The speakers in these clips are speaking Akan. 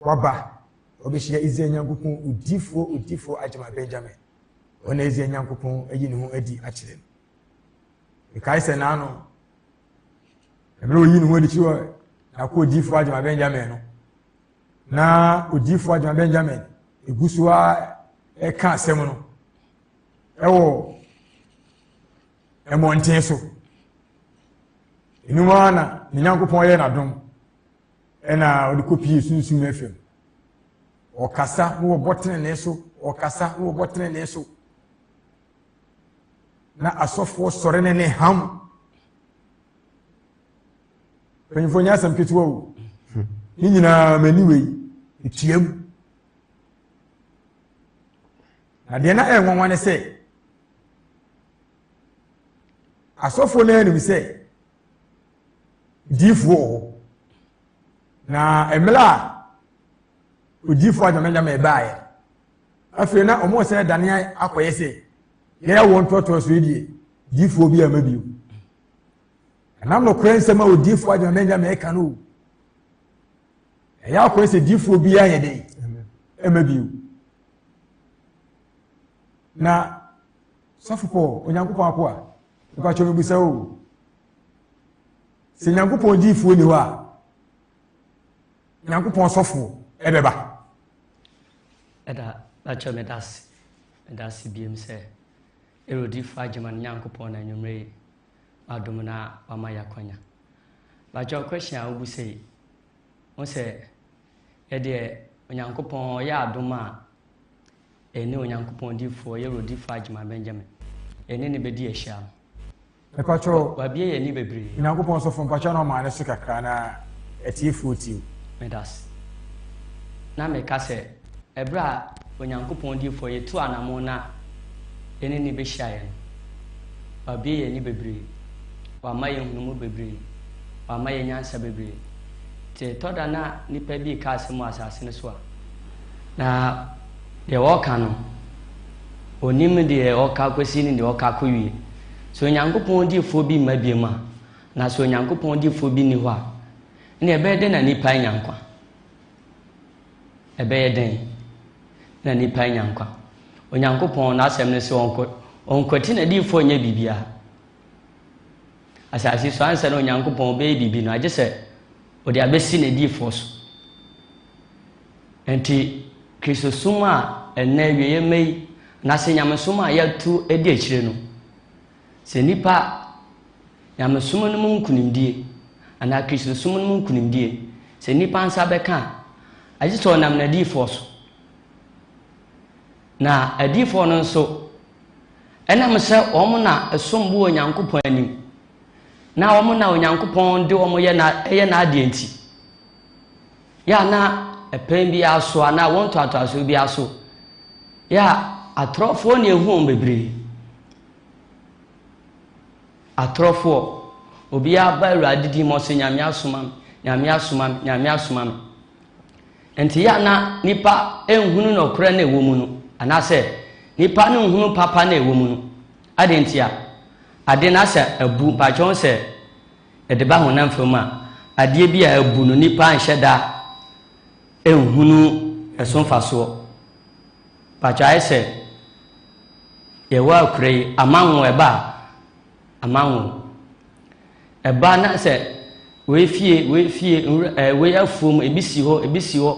Waba, obehyia Israel Nyankopɔn odifoɔ, odifoɔ agyama Benyamin, wɔn a Israel Nyankopɔn ayi ne ho adi akyerɛ no. Mekae sɛ naano, mmerɛ oyi ne ho adi kyerɛ wɔ n'ako odifoɔ agyama Benyamin no, na odifoɔ agyama Benyamin egu so a ɛka asɛm no ɛwɔ mmɔnten so. Enuma na ne Nyankopɔn yɛ n'adom. Ɛna ɔde kɔpie sunsum no afam. Ɔkasa na wɔbɔ tenenee so, ɔkasa na wɔbɔ tenenee so. Na asɔfoɔ sɔre ne ne ham. Mpanyinfoɔ nyɛ asɛm ketewa o. Ne nyinaa m'ani wei, etua mu. Na deɛ na ɛyɛ nwanwa ne sɛ, asɔfoɔ no anim sɛ gyifo wɔ hɔ na mmerɛ a ogyifo adwamanyama ɛbaeɛ afei na wɔn sɛ dane akɔyɛ sɛ yɛyɛ wɔn ntoatoa so die gyifoɔ bi ama bio ɛnam nokorɛ nsɛm a odiifoɔ adwamanyama ɛka no o ɛyɛ akɔyɛ sɛ gyifoɔ bi ayɛ dɛ ɛma bio na sɔfo paul onyankopɔn akoa Mpakyɛw mebisa wo o, sɛ Nyankopɔn gyiifoɔ ni hɔ a, Nyankopɔn sɔfoɔ ɛbɛba? Ɛda, mpakyɛw meda ase, meda ase biem sɛ Erodifoɔ agyema no Nyankopɔn na anwummerɛ yi madom na wama yɛ akwanya. Mpakyɛw question a wobu sɛ yi, wo sɛ ɛdeɛ Onyankopɔn ɔyɛ adom a Ɛne Onyankopɔn difoɔ yɛ Rodi Fudge ma Benjamin. Yɛne no bɛdi ahyiam. Mepakyɛw. Wabue yɛn ani bebree. Onyankopɔn sɔfo, mpakyɛw na ɔmaa no so kakra na atiefoɔ tie o. Medase. Na meka sɛ, ɛberɛ a Onyankopɔn difoɔ yi tuu anamon no a yɛne no bɛhyiaeɛ no, Wabue yɛn ani bebree. Wama yɛn nhunumu bebree. Wama yɛn nyansa bebree. Nti ɛtɔ da na nnipa bi reka asɛm wɔ asase no so a, na Deɛ ɔka no, ɔnnim deɛ ɔka kɔsi ne deɛ ɔka kɔwie. Sɛ Onyankopɔn difoɔ bi mma biom a, na sɛ Onyankopɔn difoɔ bi nni hɔ a, nneɛ ɛbɛyɛ dɛn na nnipa anya nkwa? Ɛbɛyɛ dɛn na nnipa anya nkwa? Onyankopɔn n'asɛm no sɛ ɔnkɔ ɔnkwati n'adiyifoɔ nyɛ biribiara. Asase so ansa na Onyankopɔn bɛyɛ biribi no, agye sɛ ɔde abɛsi n'adiyifoɔ so. Enti, Kristosom a ɛnnɛ awieeɛ mma yi anase nyamesom a yɛatu adi akyire no, sɛ nnipa a nyamesom no mu nkunimdie anaa Kristosom no mu nkunimdie, sɛ nnipa nsa bɛka a, agye sɛ ɔnam n'adiyifoɔ so. Na adiyifoɔ no nso, ɛnam sɛ wɔn na ɛsom bo wɔ Onyankopɔn anim, na wɔn na Onyankopɔn de wɔn yɛ na ɛyɛ n'adeɛ nti, Yɛ a na ɛpɛn biara so anaa awo ntoatoasoɔ biara so. Yɛ a atorɔfoɔ na ɛhu wɔn bebree. Atorɔfoɔ, obiara ba Awurade din mu ɔsɛ Nyame asoma me, Nyame asoma me, Nyame asoma me. Nti yɛ a na nipa nhunu nɔkorɛ na ɛwɔ mu no, anaasɛ nipa no nhunu papa na ɛwɔ mu no. Ade nti a, ade no asɛ abu mpakyɛw sɛ Ɛde ba honam fam a, adeɛ bi a abu no nnipa anhyɛ da nhunu ɛso mfasoɔ. Mpakyɛ ayɛ sɛ yɛwɔ akura yi, amanwo ɛba a, amanwo. Ɛba na sɛ wei fie, wei fie, wei afuom, ebi si hɔ, ebi si hɔ,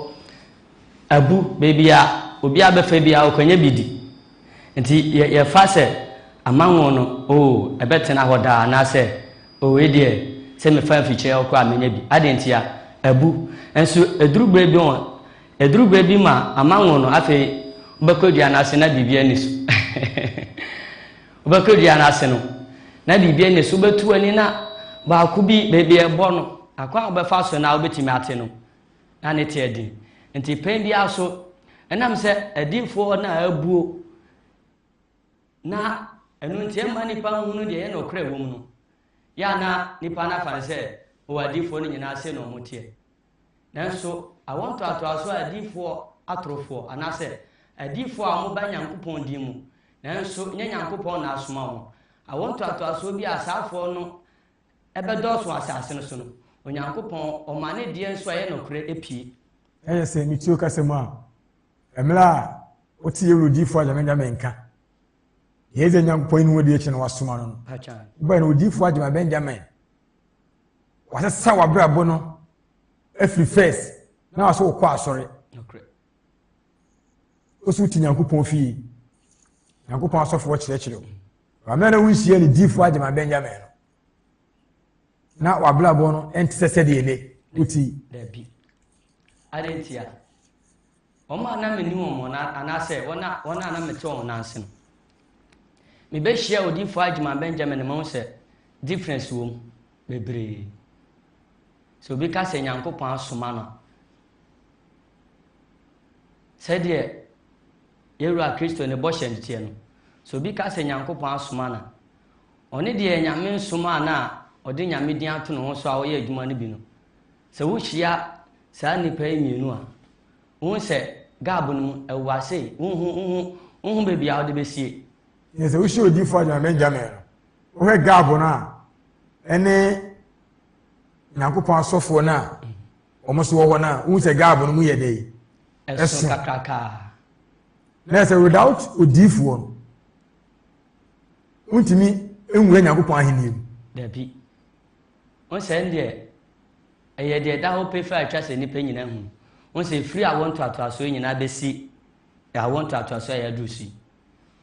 abu, baabi a obiara bɛfa biara ɔkɔnya bi di. Nti yɛ yɛfa sɛ amanwo no, oo, ɛbɛtena hɔ daa anaasɛ, oo, wei deɛ, sɛ mefa mfikyire hɔ koraa a, mɛnya bi. Adɛn ntia? Abu. Nso ɛduru berɛ bi ho, ɛduru berɛ bi ma amanwo no, afei wobɛkɔ dua no ase na biribiara nni so. wobɛkɔ dua no ase no, na biribiara nni so. Wobɛtu w'ani na baako bi, baabi a ɛbɔ no, akwan a wobɛfa so no ara wobɛtumi ate no. na ne teɛ den. Nti pɛn bi ara so, ɛnam sɛ adiyifoɔ no a abuo, na ɛno nti ɛmma nnipa nhunu deɛ ɛyɛ nokorɛ wɔ mu no, yɛ a na nnipa no afa no sɛ wɔ adiyifoɔ no nyinaa se na wɔn teɛ. Nanso awɔ ntoatoasoɔ adiyifoɔ atorofoɔ, anaasɛ adiyifoɔ a wɔba Nyankopɔn din mu, nanso nyɛ Nyankopɔn na asoma wɔn. Awɔ ntoatoasoɔ bi a asaafoɔ no ɛbɛdɔɔso wɔ asase no so no, Onyankopɔn ɔma ne deɛ nso a ɛyɛ nɔkorɛ pie. Ɛyɛ sɛ metuo kasa mu a, mmerɛ a wote yɛ wurodiifo agyama bɛnka, menka. Yɛ dze Nyankopɔn yi ne ho di akyi na wasoma no no. Wobɛyɛ no wodiifo agyama Benjamin. Wasesa w'abrabɔ no afiri first na wasɛ wokɔ asɔre. Wosi wote Nyankopɔn fie. Nyankopɔn asɔfoɔ kyerɛkyerɛ wo. Maame a na wonhyia ne difo agyama Benjamin no, na w'abrabɔ no nte sɛ sɛdeɛ ne woti. Dabi. Ade ntia. Wɔn a na menni wɔn wɔn anaasɛ wɔn a wɔn a na mete wɔn nan ase no, mebɛhyia odifo agyama Benjamin ma ho sɛ difference wɔ mu bebree. Sɛ obi ka sɛ Nyankopɔn asoma no a, Sɛdeɛ yɛn Wura Kristo ne bɔhyɛ no teɛ no, sɛ obi ka sɛ Nyankopɔn asoma no a, ɔne deɛ Nyame nsomaa no a ɔde Nyame din ato ne ho so a ɔyɛ adwuma no bi no. Sɛ wohyia saa nnipa yi mmienu a, wohu sɛ gab no mu awu ase, wohu, wohu, wohu baabi a wode bɛsie. Yɛ sɛ wohyia odiifo a Nyame ngyamee no, wohwɛ gab no a, ɛne Nyankopɔn asɔfoɔ no a wɔn so wɔ hɔ na wohu sɛ gaabo no mu yɛ dɛ ɛso kakrakaa na ɛsɛ without odiifoɔ no wontumi nwura nyankopɔn ahenni mu dabi wo sɛ ɛndeɛ ɛyɛ deɛ ɛda hɔ pefɛ a atwa sɛ nnipa nyina hu wo sɛ ɛfiri awo ntoatoasoɔ nyinaa bɛsi awo ntoatoasoɔ a yɛaduru si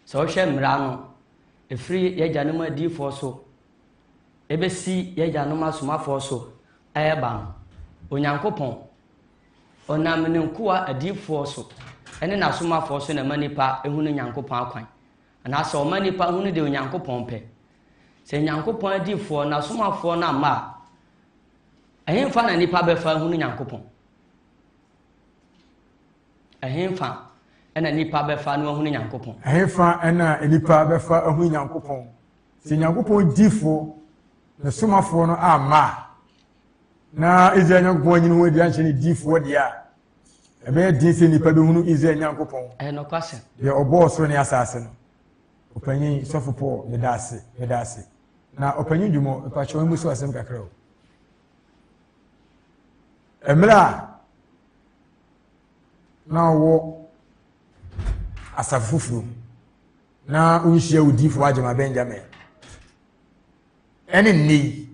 sɛ wohwɛ mmara no ɛfiri yɛagya no mu adiifoɔ so ebesi y'agyanom asomafoɔ so reba no, Onyankopɔn, Ɔnam Ne nkoa adiyifoɔ so ne N'asomafoɔ so na ɛma nnipa hunu Nyankopɔn akwan, anaasɛ Ɔma nnipa hunu deɛ Onyankopɔn pɛ. Sɛ Nyankopɔn adiyifoɔ, N'asomafoɔ no amma a, ɛhefa na nnipa bɛfa ahunu Nyankopɔn? Ɛhefa na nnipa bɛfa no ahunu Nyankopɔn? Ɛhefa na nnipa bɛfa ahunu Nyankopɔn? Sɛ Nyankopɔn dyifoɔ, Ne Somafoɔ no, amma a, na Israel Nyankopɔn anyini ho adi anhyɛ ne dyifoɔ deɛ a, ɛbɛyɛ den sɛ nnipa bɛhunu Israel Nyankopɔn, deɛ ɔbɔɔ soro ne asaase no. Ɔpanyin Sɔfo Paul, meda ase, meda ase. Na Ɔpanyin Dwumɔ, mepakyɛ wɔn mu so asɛm kakra o. Mmerɛ a na ɔwɔ asafo foforɔ mu, na wonhyia odiyifoɔ agyama benjamin ɛne nnɛ yi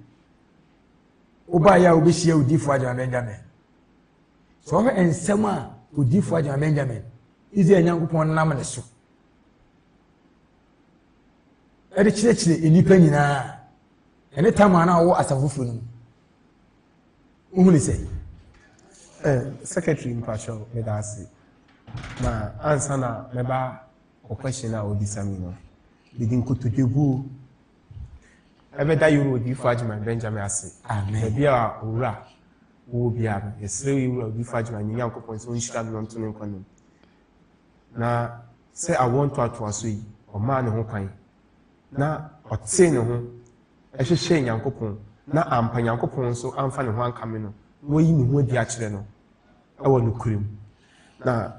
wobaeɛ a wobɛhyia odiyifoɔ agyama benjamin sɛ wɔhwɛ nsɛm a odiyifoɔ agyama benjamin israel nyankopɔn nam ne so ɛde kyerɛkyerɛ nnipa nyinaa ɛne tamaa no a wɔwɔ asafo foforɔ no mu wohu ne sɛ eh, secretary mpakyɛw meda ase na ansa na mɛba O question a wobisa me no, mede nkotodwe guo. Ɛbɛda Yowura Odiyifoɔ Agyeman Benjamin ase. Baabi a Owura wowɔ biara no, yɛsrɛ Yowura Odiyifoɔ Agyeman yɛn Nyankopɔn sɛ ɔnhyira no na ɔnto no nkwa no mu. Na sɛ awoɔ ntoatoaso yi, ɔmaa ne ho kwan na ɔtee ne ho ɛhwehwɛɛ Nyankopɔn na ampa Nyankopɔn nso amfa ne ho ankame no na wayi ne ho adi akyerɛ no ɛwɔ nokorɛ mu. Na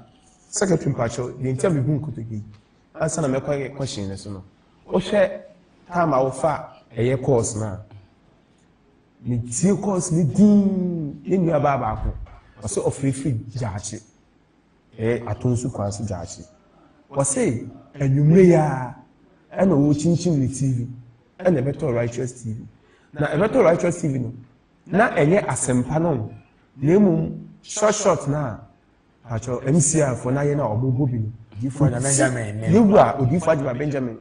secretary mpakyɛw deɛ nti a mebu nkotodwe yi ansa na mɛkɔ ayɛ question no so no wohwɛ time a wofa ɛyɛ course no a metie course no din ne nua baa baako ɔsɛ ɔfirifiri gyaakye ɛyɛ ato nso kwan so gyaakye wɔse anwummere yi a ɛna wɔkyinkyim ne tv ɛna ɛbɛtɔ righteous tv na ɛbɛtɔ righteous tv no Na ɛnyɛ asɛmpa no na mmom short short no a pakyɛ MCR fo na yɛ na ɔmo bɔ bi no. Odiyifo Agya Benjamin ne. Yewura Odiyifo Agya Benjamin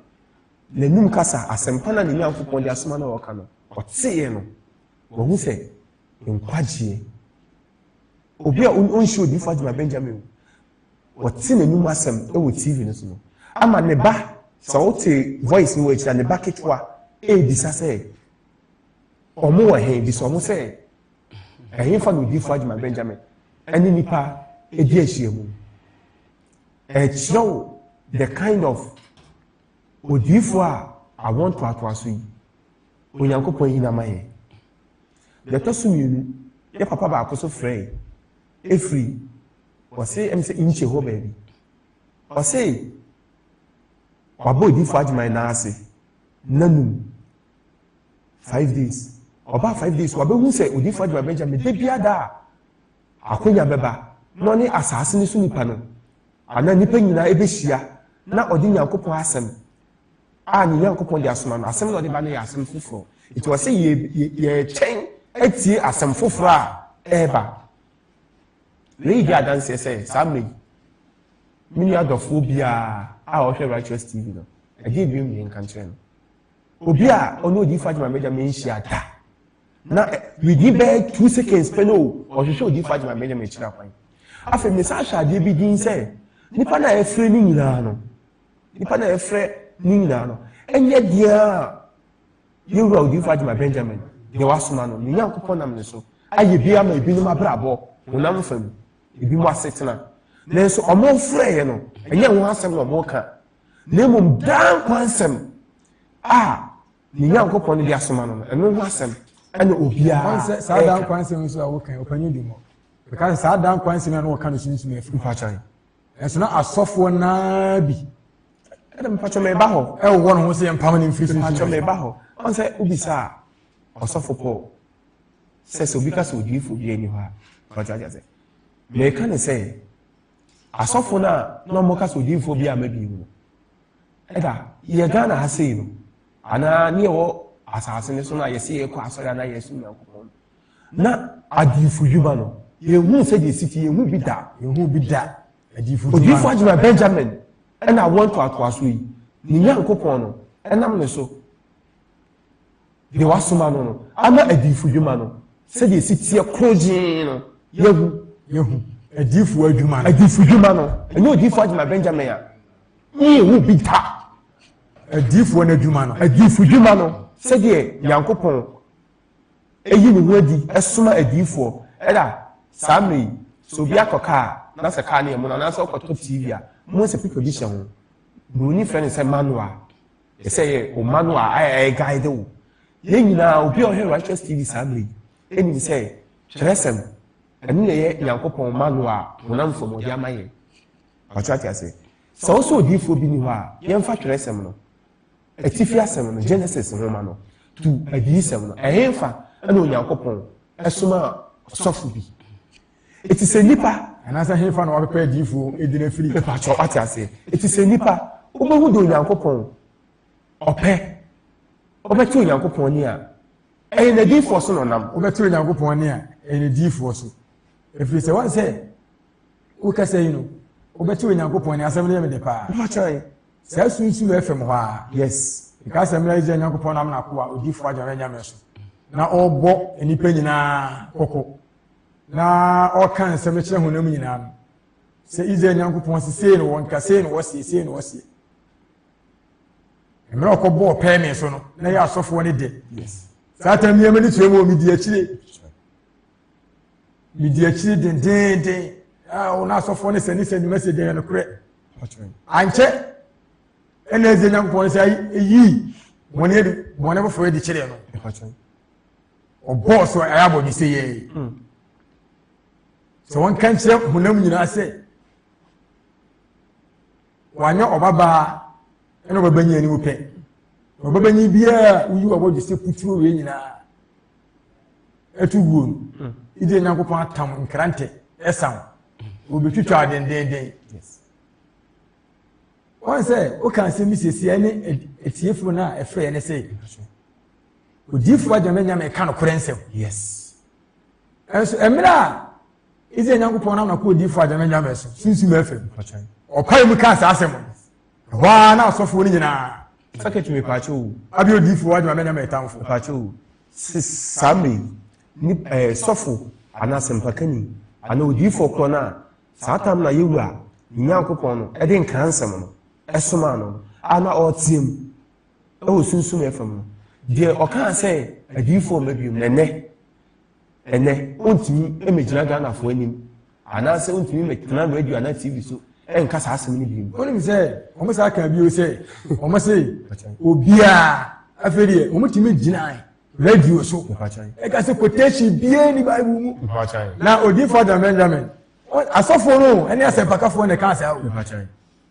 n'anum kasa asɛmpa no a ne Nyankopɔn de asoma no a ɔka no ɔteeɛ no wahu sɛ nkwagyeɛ obi a ɔnhyɛ Odiyifo Agya Benjamin o wɔte n'anum asɛm wɔ TV no so no ama ne ba sɛ wote voice no wɔ akyira ne ba ketewa ɛrebisa sɛ Wɔn wɔ he? Bisa wɔn sɛ, Ɛhefa na odiifo Agyeman Benjamin ne nnipa di ahyiamu? Ɛkyerɛw the kind of odiifo a awo ntoatoaso yi Onyankopɔn ayi n'ama yɛn. Deɛ ɛtɔ so mmienu, yɛ papa baako so frɛe efiri ɔse ɛm sɛ nkye hɔ baabi. Ɔse wabɔ odiifo Agyeman n'ase n'anum five days ɔbaa five days wabehu sɛ odifo adwuma bɛgya me da bia da a akonya bɛba na ɔne asaase no so nipa no anaa nipa nyinaa ɛbɛhyia na ɔde nyankopɔn asɛm a ne nyankopɔn de asoma no asɛm na ɔde ba no yɛ asɛm foforɔ nti ɔsɛ yɛkyɛn atie asɛm foforɔ a ɛreba wei di adanseɛ sɛ saa mmerɛ yi me nua dɔfoɔ biara a ɔhwɛ righteous tv no ɛdeɛ bi mmie nka nkyerɛ no obi a ɔne odiyifo agyima mɛgya mɛnhyia da na within bɛyɛ two seconds pɛ no o ɔhwehwɛ odiyifo agyima mɛgya mɛkyerɛ akwan afei mesa ahwɛ adeɛ bi din sɛ nipa no a yɛfrɛ no nyinaa no nipa no a yɛfrɛ no nyinaa no ɛnyɛ deɛ a yɛwura odiyifo agyima benjamin deɛ wasoma no ne nyankopɔn nam ne so ayɛ bi ama ebinom abrabɔ honam fam ebinom asetena nanso ɔmo frɛeɛ no ɛnyɛ ho asɛm na ɔmo ka na mmom daa nkwa nsɛm a ne nyankopɔn no de asoma no no ɛno ho asɛm ɛna obiara ɛka saa daa nkwa nsɛm nso a wɔka ɔpanyin di mu ɛka saa daa nkwa nsɛm a wɔka no sunsun afiri mpakyɛn ɛso na asɔfoɔ naa bi ɛna mpakyɛn mɛba hɔ ɛwɔ wɔn ho sɛ yɛn mpam ne mfiri sunsun mpakyɛn mɛba hɔ wɔn sɛ obi saa ɔsɔfo pɔl sɛ sɛ obi ka sɛ odiifo bi ani hɔ a ɔkyɛ akyɛ sɛ mɛka ne sɛ Asɔfo no a na wɔka sɛ odinfoɔ bi a mabie mu no, ɛda yɛ Ghana ha sei no, anaa ne ɛwɔ asase no so no a yɛsɛ yɛkɔ asɔre anaa yɛsom Nyankopɔn no, na adiyifo dwuma no, yɛnhuu sɛdeɛ ɛsi ti, yɛnhu bi da. Yɛnhu bi da. Odiyifo adwuma Benjamin ɛna awoɔ ntoatoasoɔ yi, ne Nyankopɔn no ɛnam ne so deɛ wasoma no no ama adiifo dwuma no sɛdeɛ ɛsi teɛ koro gyee no yɛhu yɛhu adiifo adwuma no adiifo dwuma no ɛnyɛ odiifo adwuma benjamin a ne yɛhu bi da adiifoɔ no adwuma no adiifo dwuma no sɛdeɛ nyankopɔn ɛyi ne ho adi ɛsoma adiifoɔ ɛda saa mmerɛ yi sɛ obi akɔ kaa na sɛ kaa ne yɛ mu no anaasɛ ɔkɔtɔ tv a mo sɛ pipa bi hyɛ ho buroni frɛ no sɛ manual ɛsɛ yɛ o mma no a ɛyɛ guide o yɛn nyinaa obi a ɔhwɛ righteous tv saa bere ɛnim sɛ kyerɛsɛm ɛno na ɛyɛ nyankopɔn mma no a honam fam ɔde ama yɛn ɔte ate ase sɛ wo sɛ odiifoɔ bi ni hɔ a yɛmfa kyerɛsɛm no atifi asɛm no genesis nwoma no to adiyisɛm no ɛhefa ɛna onyankopɔn ɛsoma ɔsɔfo bi Eti sɛ nipa. Anaasɛ henfa na wabɛpɛ adiyifoɔ edin afiri? Mepakyɛw, wate aseɛ? Eti sɛ nipa, wobehu deɛ Onyankopɔn ɔpɛ, wobɛte Onyankopɔn nne a, ɛyɛ N'adiyifoɔ so na ɔnam. Wobɛte Onyankopɔn nne a, ɛyɛ N'adiyifoɔ so. Efiri sɛ, wɔn sɛ, wo kasa yi no, wobɛte Onyankopɔn nne, asɛm no yɛ me dɛ paa. Mepakyɛw, saa su yi nso wɔ FM hɔ aa. Yes. Nkae sɛ mmerɛ a Israel Nyankopɔn nam N'akoa, odiyifoɔ Agya no anyame so, na ɔrebɔ nnipa nyinaa kɔkɔ. na ɔka nsɛm kyerɛ honam nyinaa no sɛ israel nyankopɔn se sei no wɔnka sei no wɔseɛ sei no wɔseɛ mmerɛ ɔkɔbɔɔ pɛɛme so no na yɛ asɔfoɔ no de saa tam nneɛma no tua mu wɔ medi akyire medi akyire dendenden ɔno asɔfoɔ no sɛne sɛ nnwuma sɛ deɛ nokorɛ ankyɛ ɛna ɛsɛ nyankopɔn sɛ ɛyii bɔne foforɔ de kyerɛ no ɔbɔɔ so ɛyɛ abɔ bi sɛ yɛe hmm. sɛ wɔnka nkyerɛ honam nyinaa sɛ wanyɛ ɔbabaa ɛna ɔbɛbɛnyi anim pɛ ɔbɛbɛnyi biara woyi wɔ abɔdwe sɛ puturo wei nyinaa ɛto guo no hmm. ɛdi nyankopɔn atam nkrantɛ ɛsam wɔbɛtwitwa adendenden wɔn sɛ woka nsɛm bi siesie ne atiefoɔ no a ɛfrɛ ne sɛ Odiyifo agya no nya meka nokorɛ nsɛm. Yes. Ɛnso ɛmmerɛ a Israel Nyankopɔn nam na kɔ odiyifo agya no nya mɛ so sunsum afam. Ɔpae mu kaa saa asɛm no. Ɛhɔ ara na asɔfoɔ no nyinaa. Sakɛt me paakyɛ o. Abi odiyifo agya no nya mɛ tamfo. Paakyɛ o. Saa mmerɛ ni ɛɛ sɔfo anaa sɛmpakani anaa odiyifo korɔ no a saa tam na yɛwu a Nyankopɔn no ɛde nkransɛm no ɛsomaa no a na ɔreteam. wɔ sunsum yɛ fam no deɛ ɔkaa sɛ adiyifoɔ mma biom na ɛnɛ ɛnɛ ɔntumi mmɛgyina ghanafoɔ anim anaasɛ ɔntumi mmɛtena radio anaa tv so ɛnka saa asɛm no biom wonim sɛ ɔmo saa kaa bio sɛ ɔmo se obiaa afei deɛ ɔmo tumi gyinae radio so ɛka sɛ quotation biaa ni bible mu na odiifoɔ adamɛndamɛn asɔfoɔ no ɛne asɛmpakafoɔ na ɛkaa saa o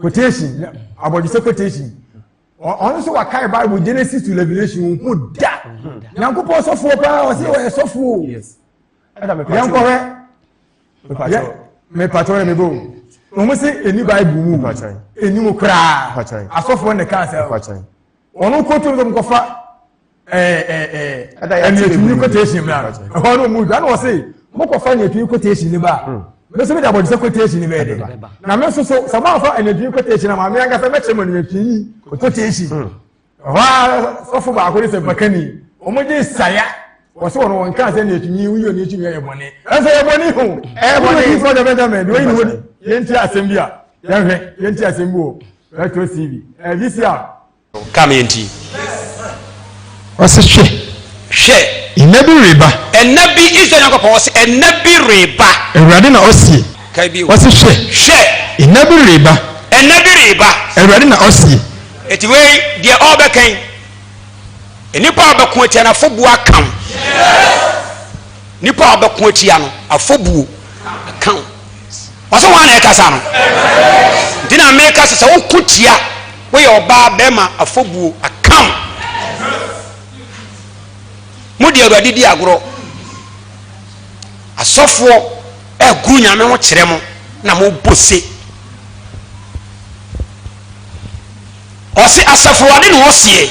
quotation abɔdwesɛ quotation ɔno nso wakae bible genesis to revelation wɔn ko da nyankopɔn sɔfoɔ paa ɔsɛ wɔyɛ sɔfoɔ yɛnkɔhwɛ mepatwɔ yɛ mebɔ wɔn se ɛni bible mu ɛni mu koraa asɔfoɔ ne kaa sɛ wɔn kɔ tuo no mu kɔfa ɛɛ ɛɛ ɛnìyɛtumi kɔtɛɛsi mu na ɛhɔ no mu dwa na wɔsi mo kɔfa ɛnìyɛtumi kɔtɛɛsi ne ba mɛ sɛ mi de abɔdisɛ kɔtɛɛsi ne bɛɛ de na mɛ soso sɛ mo afa ɛnìyɛtumi kɔtɛɛsi na maame ankasa mɛ kyerɛ mo ɛnìyɛtumi kɔtɛɛsi ɛhɔ a sɔfo baako de sɛ bakani wɔn gye saya wɔsi wɔn wɔn kan sɛ ɛnìyɛtumi wuyi ɛnìyɛtumi ɛyɛ bɔnɛ ɛsɛ ɛyɛ bɔnɛ ho ɛyɛ bɔnɛ yi fɔ dɛmɛdɛmɛ de wɔyi ne ho yɛn ti asɛm bi a yɛn hwɛ yɛn ti asɛm bi wɔ. Retro TV. Eh, this year. Kaa me yɛ nti. Ɔsi hwɛ. Hwɛ. Nna bi reba. Ɛnna bi Israel Nyankopɔn ɔsi ɛnna bi reba. Awurade na ɔsi. Kae bi. Ɔsi hwɛ. Hwɛ. Nna bi reba. Ɛnna bi reba. Awurade na ɔsi. Eti wei deɛ ɔbɛkɛn. Nnipa a bɛko atianafo bu akam. Yes. Nipa a ɔbɛko atia no afɔbuo ka wo. Wɔsɛ wɔn a na ɛkasa no. Nti na meka sɛ sɛ woko tia woyɛ ɔbaa bɛrima afɔbuo aka wo. Mo de awurade di agorɔ. Asɔfoɔ ɛguru nyame ho kyerɛ mo na mo bose. Ɔse asafo Awurade na ɔseɛ.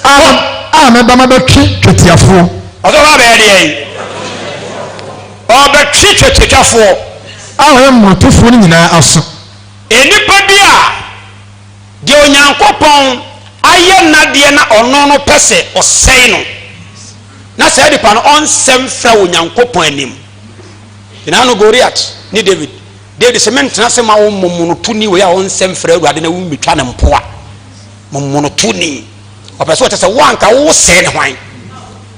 A, a mɛba mɛbɛtwe twetiafoɔ. Ɔse ɔba abɛyɛ deɛn? Ɔbɛtwe twetiatwafoɔ. A ɔyɛ mmorotofoɔ no nyinaa aso. Nnipa bi a deɛ Onyankopɔn ayɛ n'adeɛ na ɔno no pɛ sɛ ɔsɛe no, na saa nipa no ɔnsɛ mfra Onyankopɔn anim. Gyina ano Goliat ne David. Dawid se, Menntena ase mma wo mmomonotoni wei a ɔnnsɛ mfrɛ Awurade na wommɛtwa no mpoa. Mmomonotoni. Ɔpɛ sɛ ɔkyɛ sɛ wo anka wo sɛɛ ne hwan?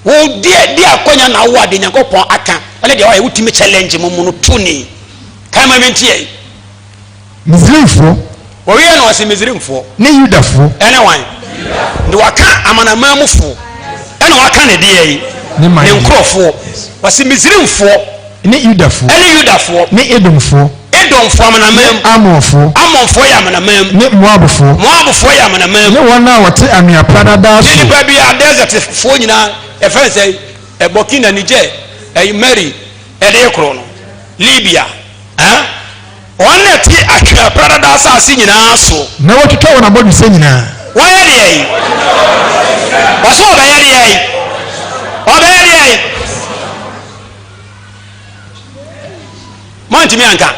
Wo deɛ de akwanya na wowɔ a deɛ Nyankopɔn aka ne deɛ wayɛ wotumi challenge mmomonotoni. Kae ma menteɛ. Misraimfoɔ Wɔyɛɛ no ase Misraimfoɔ. Ne Yudafoɔ. Ɛne wan? Yudafoɔ. Na wɔaka amanaman mufoɔ. Ɛna wɔaka ne deɛi? Ne man. Ne nkorɔfoɔ. Wɔse Misraimfoɔ. Ne Yudafoɔ. Ɛne Yudafoɔ. Ne Edomfoɔ. Edomfoɔ amanaman mu. Ne Amonfoɔ. Amonfoɔ yɛ amanaman mu. Ne Moabfoɔ. Moabfoɔ yɛ amanaman mu. Ne wɔn a wɔte anwea pradadaa so. Ne nipa bi a desertfoɔ nyinaa ɛfɛ ne sɛ Burkina, Niger, ɛyi Mali, ɛdeɛ korɔ no, Libya, ɛn. Wɔn na ɛte atwea pradada asase nyinaa so. Na watwitwa wɔn abɔdwesɛ nyinaa. Wɔyɛ deɛn? Ɔse ɔbɛyɛ deɛn? Ɔbɛyɛ deɛn? Moantumi anka.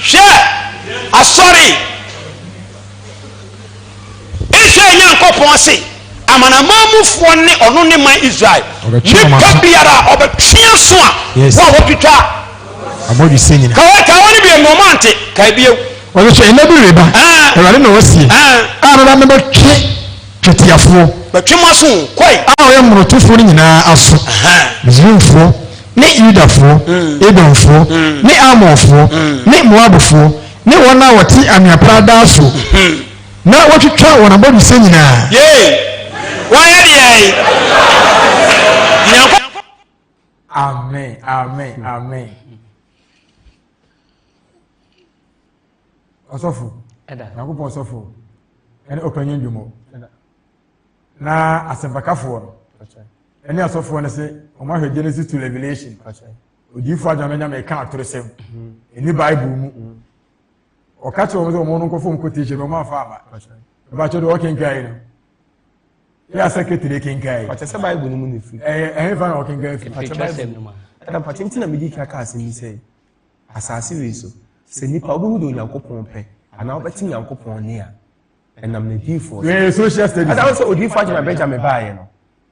Hwɛ asɔre. Israel Nyankopɔn se, Amanaman mufoɔ ne ɔno ne man Israel. Nipa biara a ɔbɛtwe aso a, wo a wotwitwa abɔdwesɛ nyina. Ka wɔ, ka wɔ ne biom na ɔmo ante, kae bio. Ɔno so ɛnɛ bi reba, Awurade na ɔseɛ, a mɛba mɛbɛtwe twetiafoɔ. Bɛtwe mo aso o, kɔe. A ɔyɛ mmorotofoɔ no nyinaa aso, Misraimfoɔ ne Yudafoɔ, Edomfoɔ ne Ammonfoɔ ne Moabfoɔ, Ne wɔn a wɔte anwea pradaa so. Na wɔtwitwa wɔn abɔdwesɛ nyinaa. Yei, wɔayɛ deɛn? Nyankopɔn. Amen, amen, amen. Ɔsɔfo. Ɛda. Nyankopɔn ɔsɔfo. Ɛne ɔpanyin dwomɔ. Ɛda. Na asɛmpakafoɔ no. Ɛne asɔfoɔ no se, wɔn ahwɛ Genesis to Revelation. Ɛda. odiyifo agya no nyame ka atorosɛm ɛni bible mu ɔka kyerɛ wɔn sɛ wɔn no nkɔfo nkotation na wɔn afa aba ɛbakyɛ deɛ ɔkenkan yi no yɛ asɛ ketele kenkan yi pàtɛ sɛ bible no mu na efiri ɛyɛ ɛyɛ fa na ɔkenkan firi pàtɛ bible no mu ɛna pàtɛ ntina mi di kaka asɛm yi sɛ asaase wei so sɛ nipa obi hu de onyankopɔn pɛ anaa ɔbɛte nyankopɔn ne a ɛnam na diifoɔ ɛyɛ social studies ɛna sɛ odiifoɔ agya na bɛgya me baayɛ no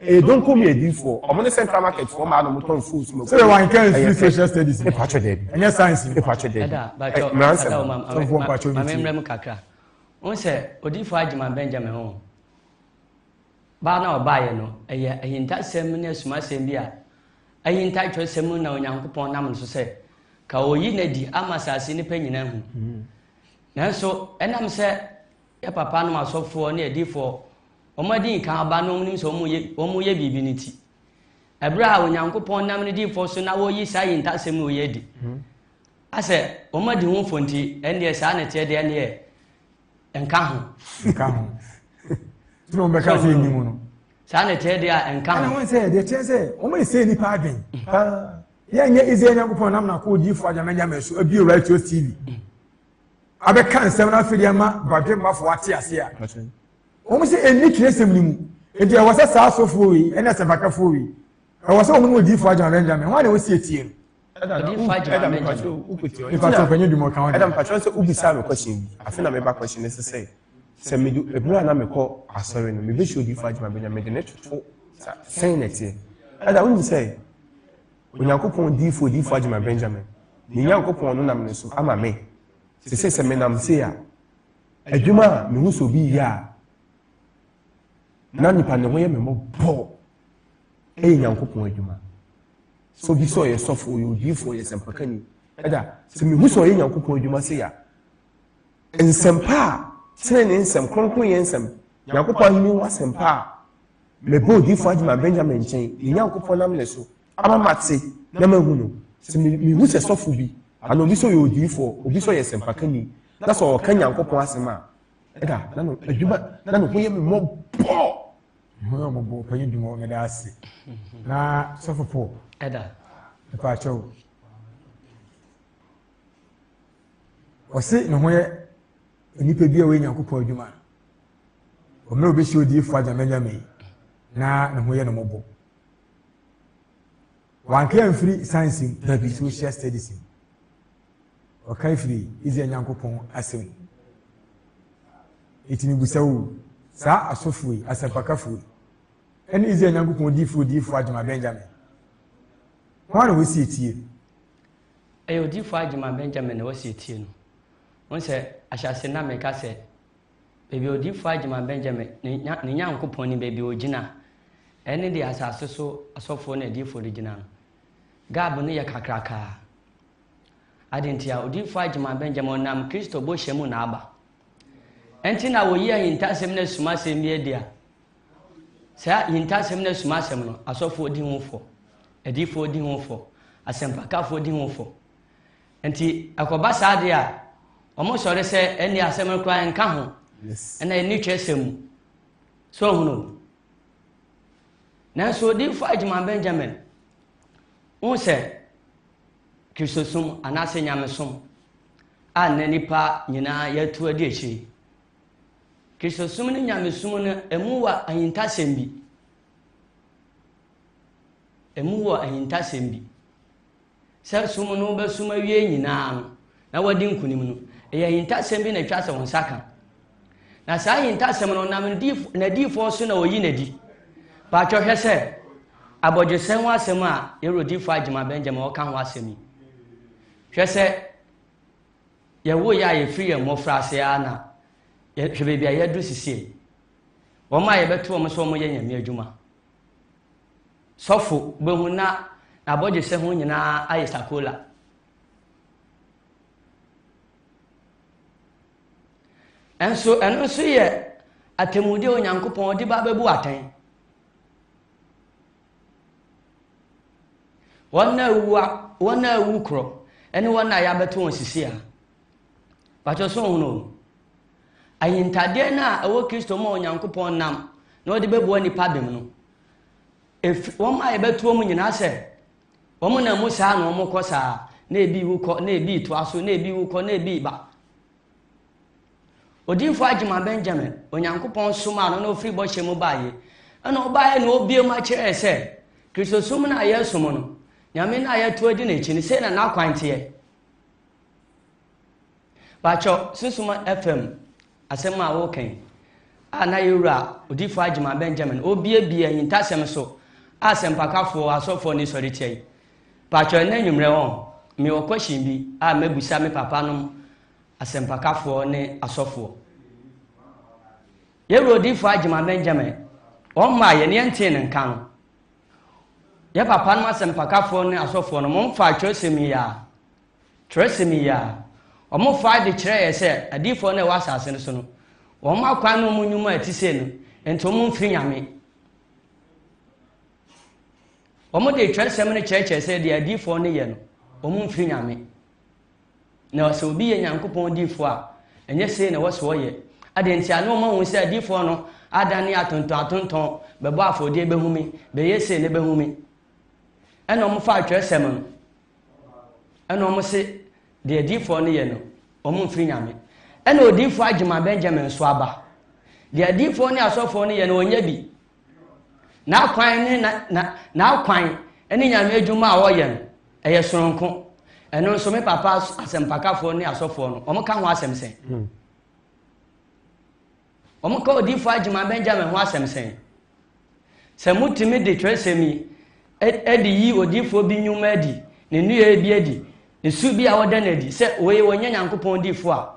ɛyɛ donko mi adiifoɔ ɔmo ne central market foɔ maa na ɔmo tɔn full smoke. sɛ wɔn nka nfiri social studies ni mpatwɛ dɛbi ɛnyɛ science ni mpatwɛ dɛbi mmeransa mu sɔfo mpatwɛ mi ti. maame mmerɛ mu kakra n sɛ odiifoɔ agyeman benjamin ho baa na ɔbaeɛ no ɛyɛ ahintasɛm ne asumasɛm bi a ahinta twerɛsɛm na onyankopɔn nam no so sɛ ka ɔyi no adi ama asase nipa nyinaa hu hmm. nanso ɛnam sɛ Yɛ papa nom asɔfoɔ ne adiyifoɔ wɔn a dii kan ba na wɔn nim sɛ wɔn yɛ wɔn yɛ biribi no ti. Ɛberɛ a Onyankopɔn nam ne diyifoɔ so na wɔyi saa ayintasɛm no yɛ adi. Hmm. Asɛ wɔn adi ho fo nti ɛnneɛ saa na ɛteɛ deɛ ɛnneɛ ɛnka ho. Ɛnka ho. Tí wɔn bɛka sɛ ɛni mu no. Saa na ɛteɛ deɛ ɛnka ho. Ɛna wɔn sɛ ɛdeɛ kyerɛ sɛ wɔn ɛsɛ nipa adwen. Paa. Yɛnyɛ Israel Nyankopɔn nam na kɔ odiyifoɔ adwamanyame so abie Radio TV. Hmm. abɛka nsɛm no afei de ama badwemmafo ate ase a wɔn sɛ ɛnni twerɛsɛm no mu nti ɛwɔ sɛ saa asɔfoɔ wei ɛne asɛmpakafoɔ wei ɛwɔ sɛ wɔn ne odiifoɔ agyama benjamin wɔn a na wɔsi atie no mpatsɔ panyin dwuma ɔka ɔdi. ɛdam mpatsɔ sɛ ubisa mi kɔhyɛn bi afe na meba kɔhyɛn ne sisɛ sɛ mi do ebura na mi kɔ asɔre no mi bɛ si odiifoɔ agyama benjamin de ne toto sɛn na ɛteɛ ɛdam n sɛ Onyankopɔn diyifo Odiyifo Agyema Benjamin, me Nyankopɔn no nam ne so ama me, te sɛ sɛ menam sei a, adwuma a mehu sɛ obi reyɛ a na nipa ne ho yɛ me mmɔbɔ ɛyɛ Nyankopɔn adwuma. Sɛ obi sɛ ɔyɛ sɔfo, ɔyɛ odiyifo, ɔyɛ sɛmpakani, ɛda sɛ mehu sɛ ɔyɛ Nyankopɔn adwuma sei a, nsɛmpa a, tenenee nsɛm, kronkronyɛ nsɛm, Nyankopɔn ahenni ho asɛmpa a Mebɔ odiyifo Adema Benjamin nkyɛn, ne Nyankopɔn nam ne so ama mate na mahu no. Sɛ mihu sɛ sɔfo bi, anaa obi sɛ ɔyɛ odiyifo, obi sɛ ɔyɛ sɛmpakani, na sɛ ɔka Nyankopɔn asɛm a, ɛda na no adwuma, na ne ho yɛ me mmɔbɔ. Me ho yɛ mmɔbɔ, ɔpanyin Dumɔ, meda ase. Na sɔfo Paul. Ɛda. Ɛpa akyɛw. Ɔse ne ho yɛ nnipa bi a ɔyɛ Nyankopɔn adwuma. Ɔmmerɛ obi hyɛ odiyifoɔ agyamanyame na ne ho yɛ no mɔbɔ. Wanka amfiri science mu dabi social studies mu. Ɔka afiri Israel Nyankopɔn asɛm mu. Ɛtumi busa wo saa asɔfoɔ yi asɛmpakafoɔ yi ɛne Israel Nyankopɔn diifoɔ diifoɔ agyama Benjamin. Wɔn na wɔsi etie. Ɛyɛ odiifoɔ agyama Benjamin na wɔsi etie no. Wɔn sɛ ahyɛase na mɛka sɛ Baabi a odiyifoɔ agyima Benyamin, ne Nya, ne Nyankopɔn nim baabi a ɔgyina. Ɛne deɛ asase so asɔfoɔ ne adiyifoɔ de gyina no. Gab no yɛ kakrakaa. Adɛn nti a odiyifoɔ agyima Benyamin ɔnam Kristo bɔhyɛ mu na aba. Ɛnti na wɔyi ahintasɛm ne asumasɛm bi adi a, saa ahintasɛm ne asumasɛm no, asɔfoɔ di ho fɔ, adiyifoɔ di ho fɔ, asɛmpakafoɔ di ho fɔ. Nti ɛkɔba saa deɛ a, wɔn sɔre sɛ ɛnni asɛm no koraa nka ho, ɛna ɛnni twerɛsɛm mu. So ohunu? Nanso Odiyifo Adwuma Benjamin hu sɛ Kristosom anaasɛ nyamesom a nnɛ nnipa nyinaa yɛatu adi akyiri. Kristosom ne nyamesom no ɛmu wɔ ahintasɛm bi. Ɛmu wɔ ahintasɛm bi. sɛ som no wobɛsom awie nyinaa no na wadi nkonim no, ɛyɛ ahintasɛm bi na ɛtwa sɛ wo nsa ka. Na saa ahintasɛm no nam n'adiyifoɔ so na wɔyi n'adi. Paatwɔ hwɛ sɛ abɔdwesɛ ho asɛm a yɛwurodifoɔ agyema Benjamin ɔka ho asɛm yi. Hwɛ sɛ yɛwo yɛ a yɛfiri yɛn mmɔfra ase ara na hwɛ baabi a yɛadu sisie. Wɔn a yɛbɛto wɔn sɛ wɔyɛ nyame adwuma. Sɔfo bɛhu na n'abɔgyesɛ ho nyinaa ayɛ sakola. Nso ɛno nso yɛ atemmude a Onyankopɔn de ba bɛbu atɛn. Wɔn a awuo korɔ ne wɔn a yɛabɛto wɔn sisi a Pakyɛ so ɔhono o. Ayintadeɛ no a ɛwɔ Kristo mu a Onyankopɔn nam na ɔde bɛboa nipa bem no, efi wɔn a yɛbɛtoɔ mu nyinaa sɛ wɔn na mu saa na wɔn kɔ saa na ebi wu kɔ na ebi toa so na ebi wu kɔ na ebi ba. Odinfo Agyema Benjamin, Onyankopɔn somaa no na ofiri bɔhyɛ mu baeɛ ɛna ɔbaeɛ na obie mu akyerɛ sɛ Kristosom no a yɛsom no, Nyame no a yɛto adi n'akyi no, sei na n'akwan teɛ. Baakyɛw sunsuma fam asɛm a woka yi a na yɛwura odifo Agyema Benjamin obiebie ahintasɛm so a asɛmpakafo asɔfo ne sɔre tia yi. Baakyɛw ɛnɛ anwummerɛ wɔn mewɔ kɔhyin bi a mɛbusa me papa nom asɛmpakafoɔ ne asɔfoɔ. Yɛwura odifo Agyema Benjamin wɔn mmaa yɛ ne yɛntee ne nka no. Yɛ papa nom asɛmpakafoɔ ne asɔfoɔ no mo mfa atwerɛsɛm yi a Twerɛsɛm yi ara, wɔfaa de kyerɛɛ yɛn sɛ adiyifoɔ no a ɛwɔ asase no so no, wɔn akwan ne wɔn nnwuma a ɛte sei no, nti wɔn mfiri Nyame. Wɔde twerɛsɛm no kyerɛkyerɛ sɛ deɛ adiyifoɔ no yɛ no, wɔn mfiri Nyame. Na sɛ obi yɛ Nyankopɔn diyifoɔ a, ɛnyɛ sei na ɛwɔ sɛ ɔyɛ. Adeɛ nti a na wɔn ahu sɛ adiyifoɔ no adane atontɔn atontɔn, bɛbɔ afɔdeɛ bɛhome, bɛyɛ sei ne bɛhome. ɛna wɔfa atwerɛsɛm no ɛna wɔn se deɛ adiifoɔ no yɛ no wɔn mfiri nyame ɛna odiifoɔ agyima benjamin nso aba deɛ adiifoɔ ne asɔfoɔ no yɛ no wɔnyɛ bi n'akwan ne na na n'akwan ne nyame adwuma a wɔyɛ no ɛyɛ soronko ɛno nso me papa asɛmpakafoɔ ne asɔfoɔ no wɔn ka ho asɛm sɛn. Hmm. Wɔka odiyifo Hageman Benjamin ho asɛm sɛn? Sɛ mutumi de twerɛsɛm yi de yi odiyifoɔ bi nnwuma adi, ne nneyɛeɛ bi adi, ne su bi a ɔda no adi sɛ wei ɔnyɛ Nyankopɔn diyifoɔ a,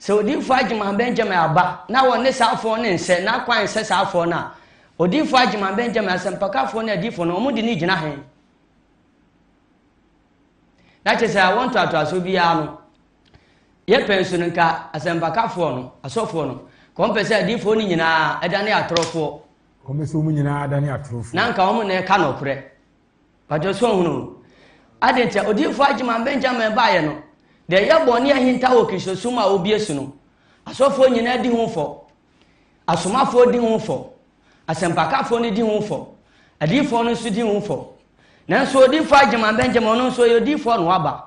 sɛ odiyifo Hageman Benjamin aba na wɔne saa afoɔ no nsɛ na kwan nsɛ saa afoɔ no a, odiyifo Hageman Benjamin, asɛmpakafoɔ ne adiyifoɔ no, wɔde no gyina he? na kyerɛ sɛ awo ntoatoasoɔ biara no yɛpɛ nso no nka asɛmpakafoɔ no asɔfoɔ no ka wɔn pɛ sɛ adiifoɔ no nyinaa ɛdane atorofoɔ wɔn pɛ sɛ wɔn nyinaa dane atorofoɔ na nka wɔn na ɛka nɔkorɛ wadwo so ɔhunu ade nti odiifoɔ agyeman benjamin baeɛ no deɛ ɛyɛ bɔne ahinta wɔ kirisosum a wɔbie so no asɔfoɔ nyinaa di ho fɔ asomafoɔ di ho fɔ Asɛmpakafoɔ no di ho fɔ. Adiyifoɔ no nso di ho fɔ. Nanso odiyifoɔ Agyeman Benjamin ɔno nso ɔyɛ odiyifoɔ na waba.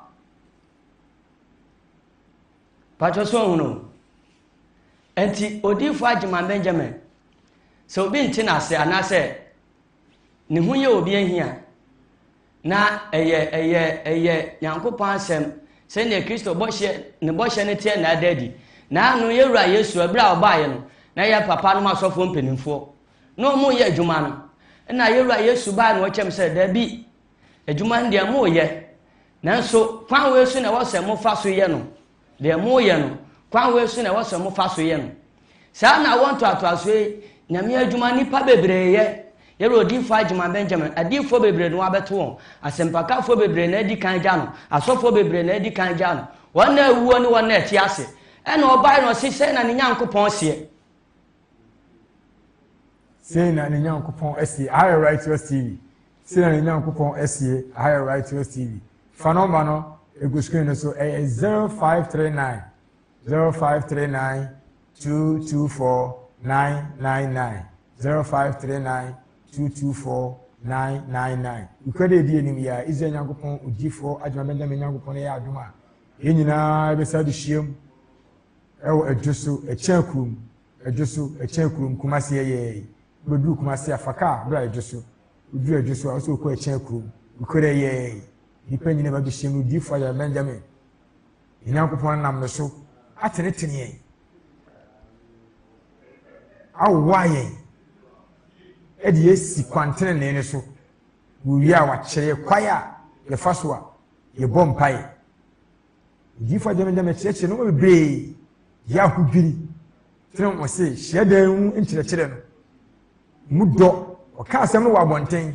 Patwɛ so ɔhunu. Nti odiyifoɔ Agyeman Benjamin sɛ obi nte n'ase anaasɛ ne ho yɛ obi ahi a Na ɛyɛ, ɛyɛ, ɛyɛ Nyankopɔn Asɛm, sɛdeɛ Kristo bɔhyɛ, ne bɔhyɛ no teɛ na ada adi. Na ano yɛ Wura Yesu, ɛberɛ a Ɔbaeɛ no, na yɛ papa nom asɔfoɔ mpaninfoɔ, na wɔn reyɛ adwuma no, ɛna yɛ Wura Yesu baeɛ na ɔkyɛm sɛ, Dabi, adwuma no deɛ moyɛ, nanso kwan wei so na ɛwɔ sɛ mofa so yɛ no. Deɛ moreyɛ no, kwan wei so na ɛwɔ sɛ mofa so yɛ no. Saa na awoɔ ntoatoasoɔ yi Nyame adwuma nnipa bebree yɛ. Yɛrɛ odiyifoɔ Agyeman Benjamin, adiyifoɔ bebree na wɔabɛto wɔn, asɛmpakafoɔ bebree na adi kan agya no, asɔfoɔ bebree na adi kan agya no, wɔn na awuo ne wɔn na ɛte ase. Ɛnna ɔbaeɛ na ɔse, Sɛɛ na ne Nyankopɔn seɛ. Sei na ne Nyankopɔn asie, aha yɛ Righteous TV. Sei na ne Nyankopɔn asie, aha yɛ Righteous TV. Fa nɔmba no egu screen no so, ɛyɛ 0539 0539 224 999 0539 224 999. Wokura dɛ edi anim yɛ a, Israel Nyankopɔn odiyifoɔ Adwuma Benjamin Nyankopɔn yɛ adom a, yɛn nyinaa bɛsa de hyiam. Ɛwɔ Adwo so ɛkyɛn kurom Adwo so ɛkyɛn kurom Kumasi ɛyɛɛyi Wobɛduru Kumasi a fa kaa bra Adwo so Woduru Adwo so a wosɛ wokɔ ɛkyɛn kurom Nokorɛ ɛyɛɛyi Nnipa nyina ba bɛhyiam no Odiyifoɔ Ayaa Benjamin Yɛn Nyankopɔn nam no so atenetene yɛn Awowa yɛn ɛde yɛ asi kwan tenenee no so Wɔwie a wakyerɛ yɛ kwae a yɛfa so a yɛbɔ mpaeɛ Odiyifo Agyenom de akyerɛkyerɛ nneɛma bebree yɛ ahodwiri kyerɛ wɔn se hyiadan mu nkyerɛkyerɛ no mu dɔ. Wɔka asɛm no wɔ abɔnten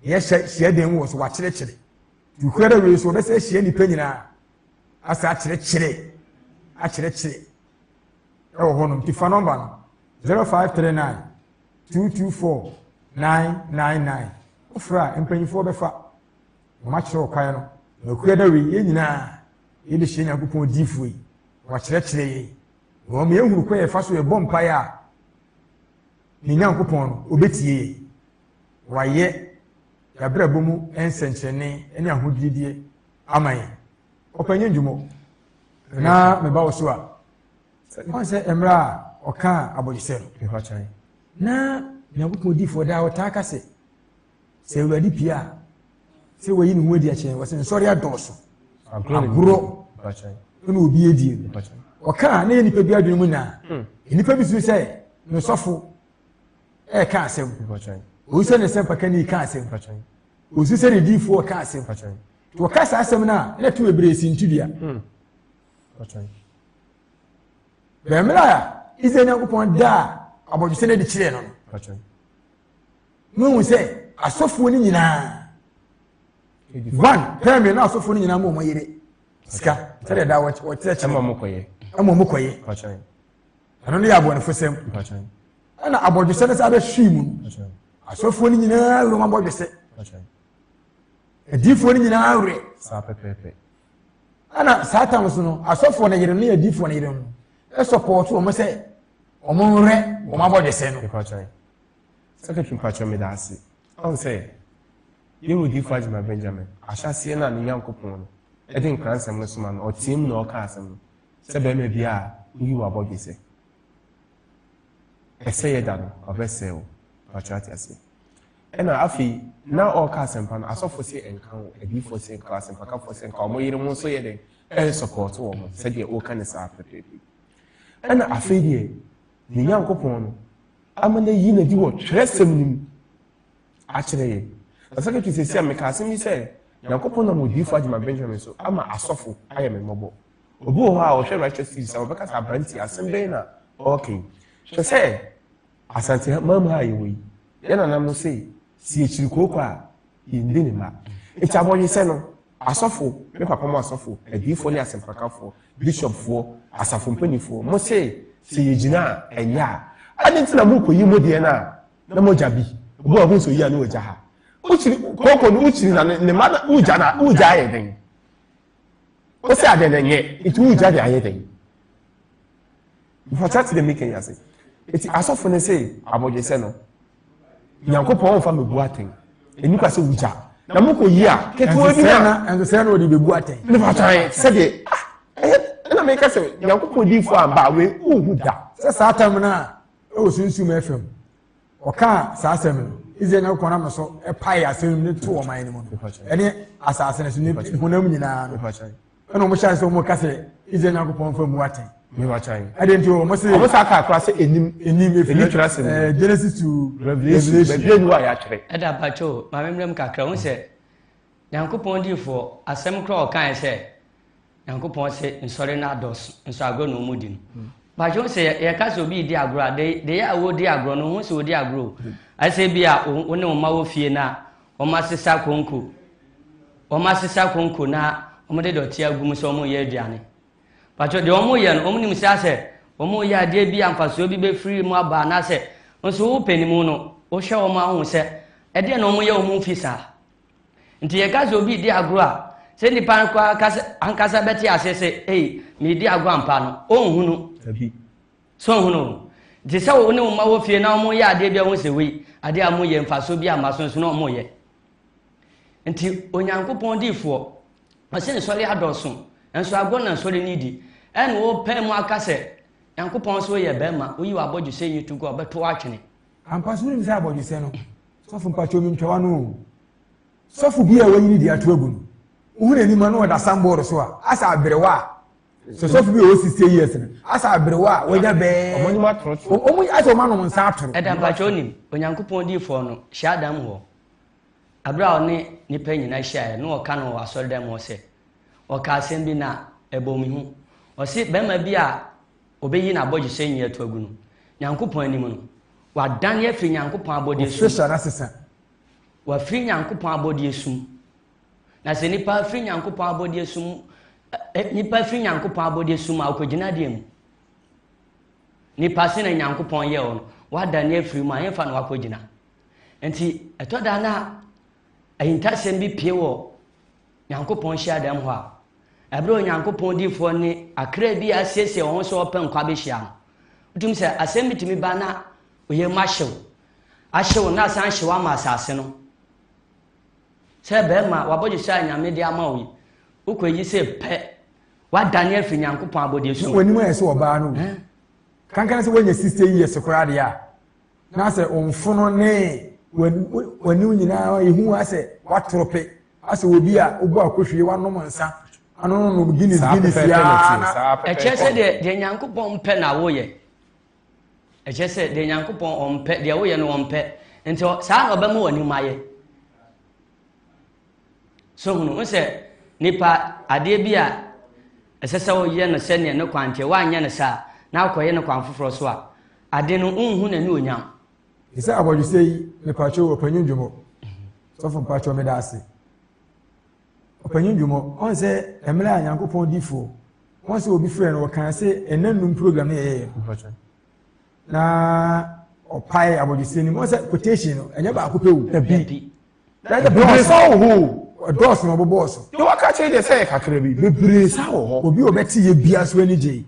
na yɛhyɛ hyiadan mu wɔ so wɔakyerɛkyerɛ. Tukura da wei so wɔbɛsɛ ahyia nnipa nyinaa asa akyerɛkyerɛ akyerɛkyerɛ ɛwɔ hɔnom. Nti fa nɔmba no 0539 224 999 wofrɛ a mpanyinfoɔ bɛfa. wɔakyerɛ ɔkwan no, na ɔkura da wei, yɛn nyinaa yɛbɛhyia Nyankopɔn odiyifoɔ yi, wakyerɛkyerɛ yɛn, na wɔn yɛhunu kwan yɛfa so yɛbɔ mpaeɛ a, ne Nyankopɔn no, ɔbɛtie yɛn. Wayɛ yɛabrabɔ mu nsɛnkyerɛnne ne ahodwirideɛ ama yɛn. Ɔpɛ nyɛ ndwumɔ. Na meba wo so a, wɔn sɛ mmerɛ a ɔkaa abɔdwesɛ no, na Nyankopɔn odiyifoɔ daa ɔtaa ka sɛ, Sɛ Awurade pie a, sɛ wayi ne ho adi akyɛn, wɔsɛ nsɔre adɔɔso. Agorɔ ɛna obi adie no. Ɔkaa na yɛ nipa bi adwene mu na hmm. nipa bi suru sɛ ne sɔfo ɛka asɛm. Oyi sɛ ne sɛ mpaka ni ka asɛm. Osi sɛ ne diifoɔ ka asɛm. Wɔka saa asɛm no a na ɛto bebree si ntudua. Hmm. Bɛmmerɛ a Israel Nyankopɔn daa abɔdwesɛ no adi kyerɛɛ no no. Mohu sɛ asɔfoɔ no nyinaa one pɛrɛ na asɔfoɔ no nyinaa ma wɔn yere sika sɛdeɛ daa wɔkyerɛkyerɛ ma wɔn kɔyɛ ɛma wɔn kɔyɛ ɛno no yɛ abɔnefo sɛm ɛna abɔdwesɛ no sɛ abɛhwii mu asɔfoɔ no nyinaa werɛ ma bɔdwesɛ adiifoɔ no nyinaa werɛ ɛna saa tam so no asɔfoɔ no yere ne adiifoɔ no yere no ɛsɔpɔɔto wɔn sɛ wɔn werɛ wɔn abɔdwesɛ no Secretary mpakyɛw medaase. Ahu sɛ yɛn wɔ Difo Agyima Benjamin, ahyɛaseɛ no a ne Nyankopɔn no de nkransɛm no soma no, ɔteɛ mu na ɔka asɛm no, sɛ barima biara a woyi wo abɔdwe sɛ ɛsɛ yɛ da no, ɔbɛsɛe wo. Mpakyɛw ate aseɛ. Ɛna afei, na ɔreka asɛmpa no, asɔfo se nka wo, adiifoɔ se nka wo, asɛmpakafoɔ se nka wo, wɔn yere mo nso yɛ dɛn? Ɛresɔpɔɔto wɔn sɛdeɛ woka ne saa pɛpɛɛpɛ. Ɛna afei deɛ, yɛn Nyankopɔn no ama no ayi n'adi wɔ twerɛsɛm no mu akyerɛ yɛn. Na sekretary sɛ si a meka asɛm yi sɛ Nyankopɔn nam odiyifo Adjman Benjamin so ama asɔfo ayɛ me mmɔbɔ. Obi wɔ hɔ a ɔhwɛ Righteous TV sɛ wɔbɛka sɛ aberante asɛm bɛn na ɔreka yi. Hwɛ sɛ Asante man mu ha a yɛwɔ yi, yɛn nananom se, si akyiri kooko a, yɛndi ne mma. Nti abɔdwesɛ no, asɔfo, me papa mo asɔfo, adiyifoɔ ne asɛmpakafoɔ, bishopfoɔ, asafo mpanimfoɔ, mo se sɛ yɛgyina a, ɛnyɛ a, adɛn nti na morekɔyi mo deɛ no a na mogya bi, obi a ɔhu sɛ oyi a na ɔgya ha. Wokyiri, kooko no wokyiri na ne mma na wogya na wogya ayɛ dɛn? Wosɛ adɛn na ɛnyɛ, nti wogya de ayɛ dɛn? Mfata te dɛ mekanya ase. Nti asɔfo no se abɔdwesɛ no, nyankopɔn ɔmfa mɛbu atɛn ɛni kwa sɛ wogya na mokɔ yi a ketewa bi na ɛnsɛ na ɔde bɛbu atɛn ne fatwae sɛdeɛ ɛna meka sɛ nyankopɔn difoɔ amba we wohu da sɛ saa tam no a ɛwɔ sunsum ɛfam ɔkaa saa asɛm no israel nyankopɔn nam no so ɛpae asɛm no to ɔman no mu no ɛne asase no so ne honam nyinaa no ɛna wɔn hyɛ ase wɔn ka sɛ israel nyankopɔn fɛ mu atɛn. ɛdi nti wɔn se. wɔn sa aka akora sɛ enim. enim efiri ɛni tura se mu. ɛɛ genesis to revelation bɛbi enu a yɛatwerɛ. ɛda abatwo maame mmerɛ mu kakra wɔn sɛ nyankopɔn diifoɔ asɛm kora ɔkan sɛ nyankopɔn se nsɔre na adɔso nso agorɔ na wɔn di no batwo sɛ yɛka sɛ obi di agorɔ a de de yɛ a wɔdi agorɔ no wɔn sɛ wɔdi agorɔ o ɛsɛ bi a wɔn ne wɔn ma wɔ fie na Wɔasesa konko. Wɔasesa konko na wɔde dɔte agu mu sɛ wɔreyɛ aduane. Patrɔ deɛ wɔreyɛ no, wɔnim sɛ asɛ wɔreyɛ adeɛ bi a mfasoɔ bi bɛfiri mu aba anaasɛ nso wo panimu no, wohwɛ wɔn a wohu sɛ ɛdeɛ na wɔyɛ wɔn mfi saa. Nti yɛka sɛ obi redi agorɔ a, sɛ nnipa ankasa bɛte aseɛ sɛ ei, meredi agorɔ ampa no, ɔnhunu. Dabi, So wohu no? Te sɛ wo ne wo mma wɔ fie na wɔreyɛ adeɛ bi a wohu sɛ wei, adeɛ a wɔyɛ mfasoɔ bi a mma so nso na wɔreyɛ. Nti Onyankopɔn diifoɔ, ɔsɛ nsɔre adɔɔso, nso agorɔ na nsɔre no di. Ɛna wɔpɛ mu aka sɛ, Nyankopɔn sɛ woyɛ bɛrima, woyi w'abɔdwesɛ nyi to gu a, ɔbɛto atwene. Ampa so wonim sɛ abɔdwesɛ no, sɔfo mpakyɛw mentwa w'ano o. Sɔfo bi a wɔayi ne di ato agu no, wohu n'anim a na ɔda sanbɔɔdo so a, asɛ aberewa a sɔsɔfo bi a ɔwɔ sixty years no asa aberewa a wɔnya bɛɛ wɔn anim atoro so wɔn asɛ wɔn anom nsa atoro. ɛda mpatsɛ onim onyankopɔn diifoɔ no hyia adam hɔ abere a ɔne nipa nyinaa hyiaeɛ no ɔka no wɔ asɔredan mu ɔsɛ ɔka asɛm bi na ɛbɔ mi ho ɔse bɛrima bi a ɔbɛyi n'abɔgyesɛ nyi ato agu no nyankopɔn anim no wadan afiri nyankopɔn abɔdeɛ sum wafiri nyankopɔn abɔdeɛ sum Na sɛ nipa afiri Nyankopɔn abɔdeɛ sum nipa afiri Nyankopɔn abɔdeɛ sum a ɔkɔgyina adeɛ mu nipa se na Nyankopɔn yɛ ɔno wada ne afiri mu a yɛmfa no wakɔgyina nti ɛtɔ da na ahintasɛm bi pie wɔ Nyankopɔn hyiadan mu hɔ a ɛberɛ Onyankopɔn difoɔ ne akra bi asiesie wɔn sɛ wɔpɛ nkwa bɛhyia no wotumi sɛ asɛm bi tumi ba na oyɛ mu ahyew ahyew na asan hyew ama asase no Sɛ bɛɛma w'abɔdwesɛ a Nyame de ama wo yi, wokɔ eyi se pɛ, w'adane afi Nyankopɔn abɔdeɛ so. Na w'anim ayɛ sɛ ɔbaa no wu. Kankane sɛ w'anya 60 years koraa deɛ a, na sɛ wo mfono ne w'anim nyinaa ehu asɛ w'atorope, asɛ obi a wobɔ akohwie, w'anom nsa, ano no nom Guinness Guinness yaa na. Ɛkyerɛ sɛ deɛ Nyankopɔn pɛ na woyɛ. ɛkyerɛ sɛ deɛ nyankopɔn ɔmpɛ deɛ woyɛ no ɔmpɛ nti saa na ɔbɛma w'ani ma yɛ so hunu wo sɛ nipa adeɛ bi a ɛsɛ sɛ woyɛ no sɛdeɛ ne kwan teɛ woanyɛ no saa na akɔyɛ no kwan foforɔ so a ade no wonhu n'ani onyam te sɛ abɔdwesɛ yi mepatwo ɔpanyin dwomɔ sɔfo mpatwo meda ase Ɔpanyin Dwom, ɔn sɛ ɛmmerɛ a Nyankopɔn difoɔ, ɔn sɛ obi frɛ no, ɔkaa se ɛna nnum program no yɛyɛɛ no. Na ɔpae abɔdwesɛ no mu, ɔn sɛ quotation no, ɛnyɛ baako pɛ o, ɛbi. Na ɛdɛ bebree saa wɔ hɔ o. Ɛdɔɔso na ɔbobɔɔ so. Deɛ waka akyerɛ deɛ sɛ yɛ kakra bi, bebree saa wɔ hɔ. Obi a ɔbɛte yɛ bia so ani gyei.